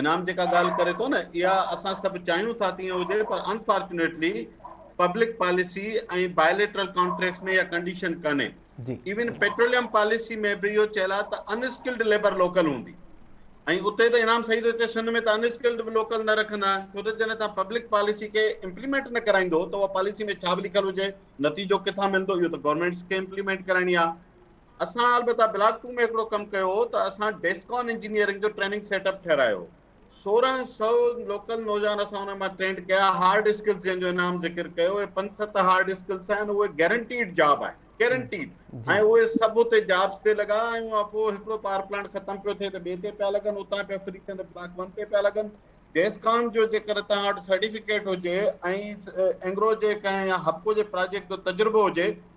انعام جيڪا ڳالهه ڪري ٿو نه اها اسان سڀ چاهيون ٿا تيئن هجي پر unfortunately public policy ۽ bilateral contracts ۾ اها ڪنڊيشن ڪانهي ايون پيٽروليم پاليسي ۾ به اهو چيل آهي ته انسڪلڊ ليبر لوڪل هوندي ۽ اتي ته انعام صحيح ٿو چئي سن ۾ ته انسڪلڊ به لوڪل نه رکندا آهن ڇو ته جڏهن تان پبلڪ پاليسي کي امپليمينٽ نه ڪرائيندو ته اها پاليسي ۾ ڇا به لکيل هجي نتيجو ڪٿان ملندو اهو ته گورنمينٽس کي امپليمينٽ ڪرائڻي آهي اسان البته بلاڪ ٽو ۾ هڪڙو ڪم ڪيو هو ته اسان ڊيسڪان انجنيئرنگ جو ٽريننگ سيٽ اپ ٺهرايو. سورهن سئو لوڪل نوجوان اسان انهن مان ٽرينڊ ڪيا. هارڊ اسڪلز جنهن جو انعام ذڪر ڪيو اهي پنج ست هارڊ اسڪلز آهن اهي گيرنٽيڊ جاب آهن گيرنٽيڊ ۽ اهي سڀ اتي جابس تي لڳا ۽ ان پوء هڪڙو پاور پلانٽ ختم پيو ٿئي ته ٻئي تي پيا لڳن اتان پيا فري ٿين ته بلاڪ ون تي پيا لڳن ڊيسڪان جو جيڪر توهان وٽ سرٽيفڪيٽ هجي ۽ اينگرو جي ڪنهن يا هپڪو جي پراجيڪٽ جو تجربو هجي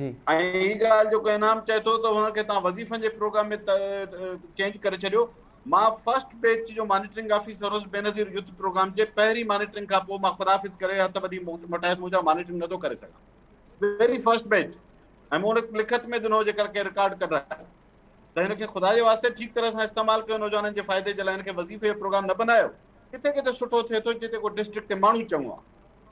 جي. ۽ هي ڳالهه جيڪو انعام چئي ٿو ته هن کي توهان وظيفن جي پروگرام ۾ چينج ڪري ڇڏيو. مان فرسٽ بيچ جو مانيٽرنگ آفيسر هوس بينظير يوٿ پروگرام جي پهرين مانيٽرنگ کان پوء مان خداحافظ ڪري هٿ ٻڌي موٽايس مون چيو مانيٽرنگ نٿو ڪري سگهان ويري فرسٽ بيچ ۽ مون هن لکت ۾ ڏنو جيڪر ڪنهن رڪارڊ ڪڍرائي ته هن کي خدا جي واسطي ٺيڪ طرح سان استعمال ڪيو نوجوانن جي فائدي جي لاء هن کي وظيفي جو پروگرام نه بنايو ڪٿي ڪٿي سٺو ٿئي ٿو جتي ڪو ڊسٽرڪٽ تي ماڻهو چڱو آهي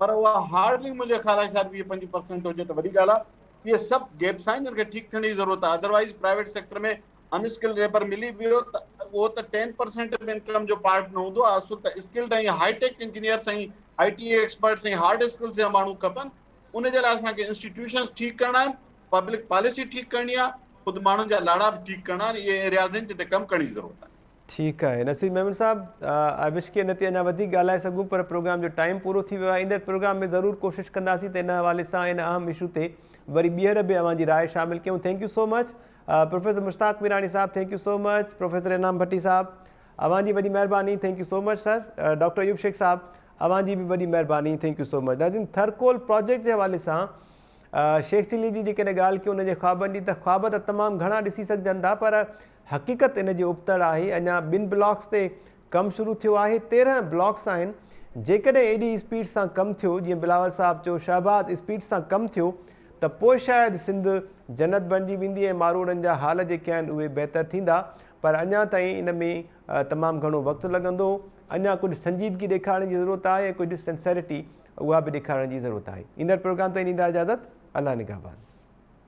پر اها هارڊلي منهنجي خيال شايد ويهه پنجويهه پرسينٽ هجي ته وڏي ڳالهه آهي. اهي سڀ گيپس آهن جن کي ٺيڪ ٿيڻ جي ضرورت آهي ادروائيز پرائيويٽ سيڪٽر ۾ ان اسڪلڊ ليبر ملي ويو ته اهو ته ٽين پرسينٽ به انڪم جو پارٽ نه هوندو اصل ته skilled ۽ high tech engineers ۽ I T experts ۽ hard skills جا ماڻهو کپن ان جي لاء اسان کي انسٽيٽيوشنس ٺيڪ ڪرڻا آهن پبلڪ پاليسي ٺيڪ ڪرڻي آهي خود ماڻهن جا لاڙا به ٺيڪ ڪرڻا آهن اهي ايرياز آهن جن تي ڪم ڪرڻ جي ضرورت آهي ٺيڪ آهي نصير ميمڻ صاحب آء وش ڪي ان تي اڃا وڌيڪ ڳالهائي سگهون پر پروگرام جو ٽائيم پورو ٿي ويو آهي ايندڙ پروگرام ۾ ضرور ڪوشش ڪنداسين ته ان حوالي سان ان اهم اشو تي وري ٻيهر به اوهان جي راء شامل ڪيون thank you so much professor Mushtaq Mirani صاحب thank you so much professor Inam Bhatti صاحب اوهان جي وڏي مهرباني thank you so much sir doctor Ayub Shaikh صاحب اوهان جي به وڏي مهرباني ٿينڪ يو سو مچ ناظرين ٿرڪول پروجيڪٽ جي حوالي سان شيخ چلي جي جيڪڏهن ڳالهه ڪيون ان جي خوابن جي ته خواب ته تمام گهڻا ڏسي سگهجن ٿا پر حقيقت ان جي ابتڙ آهي، اڃا ٻن بلاڪس تي ڪم شروع ٿيو آهي، تيرهن بلاڪس آهن، جيڪڏهن ايڏي اسپيڊ سان ڪم ٿيو، جيئن بلاول صاحب چيو شهباز اسپيڊ سان ڪم ٿيو ته پوء شايد سنڌ جنت بڻجي ويندي ۽ ماروئڙن جا حال جيڪي آهن اهي بهتر ٿيندا، پر اڃا تائين ان ۾ تمام گهڻو وقت لڳندو، اڃا ڪجهه سنجيدگي ڏيکارڻ جي ضرورت آهي ۽ ڪجهه سنسيرٽي اها به ڏيکارڻ جي ضرورت آهي، ايندڙ پروگرام تائين ڏيندا اجازت، الله نگهبان.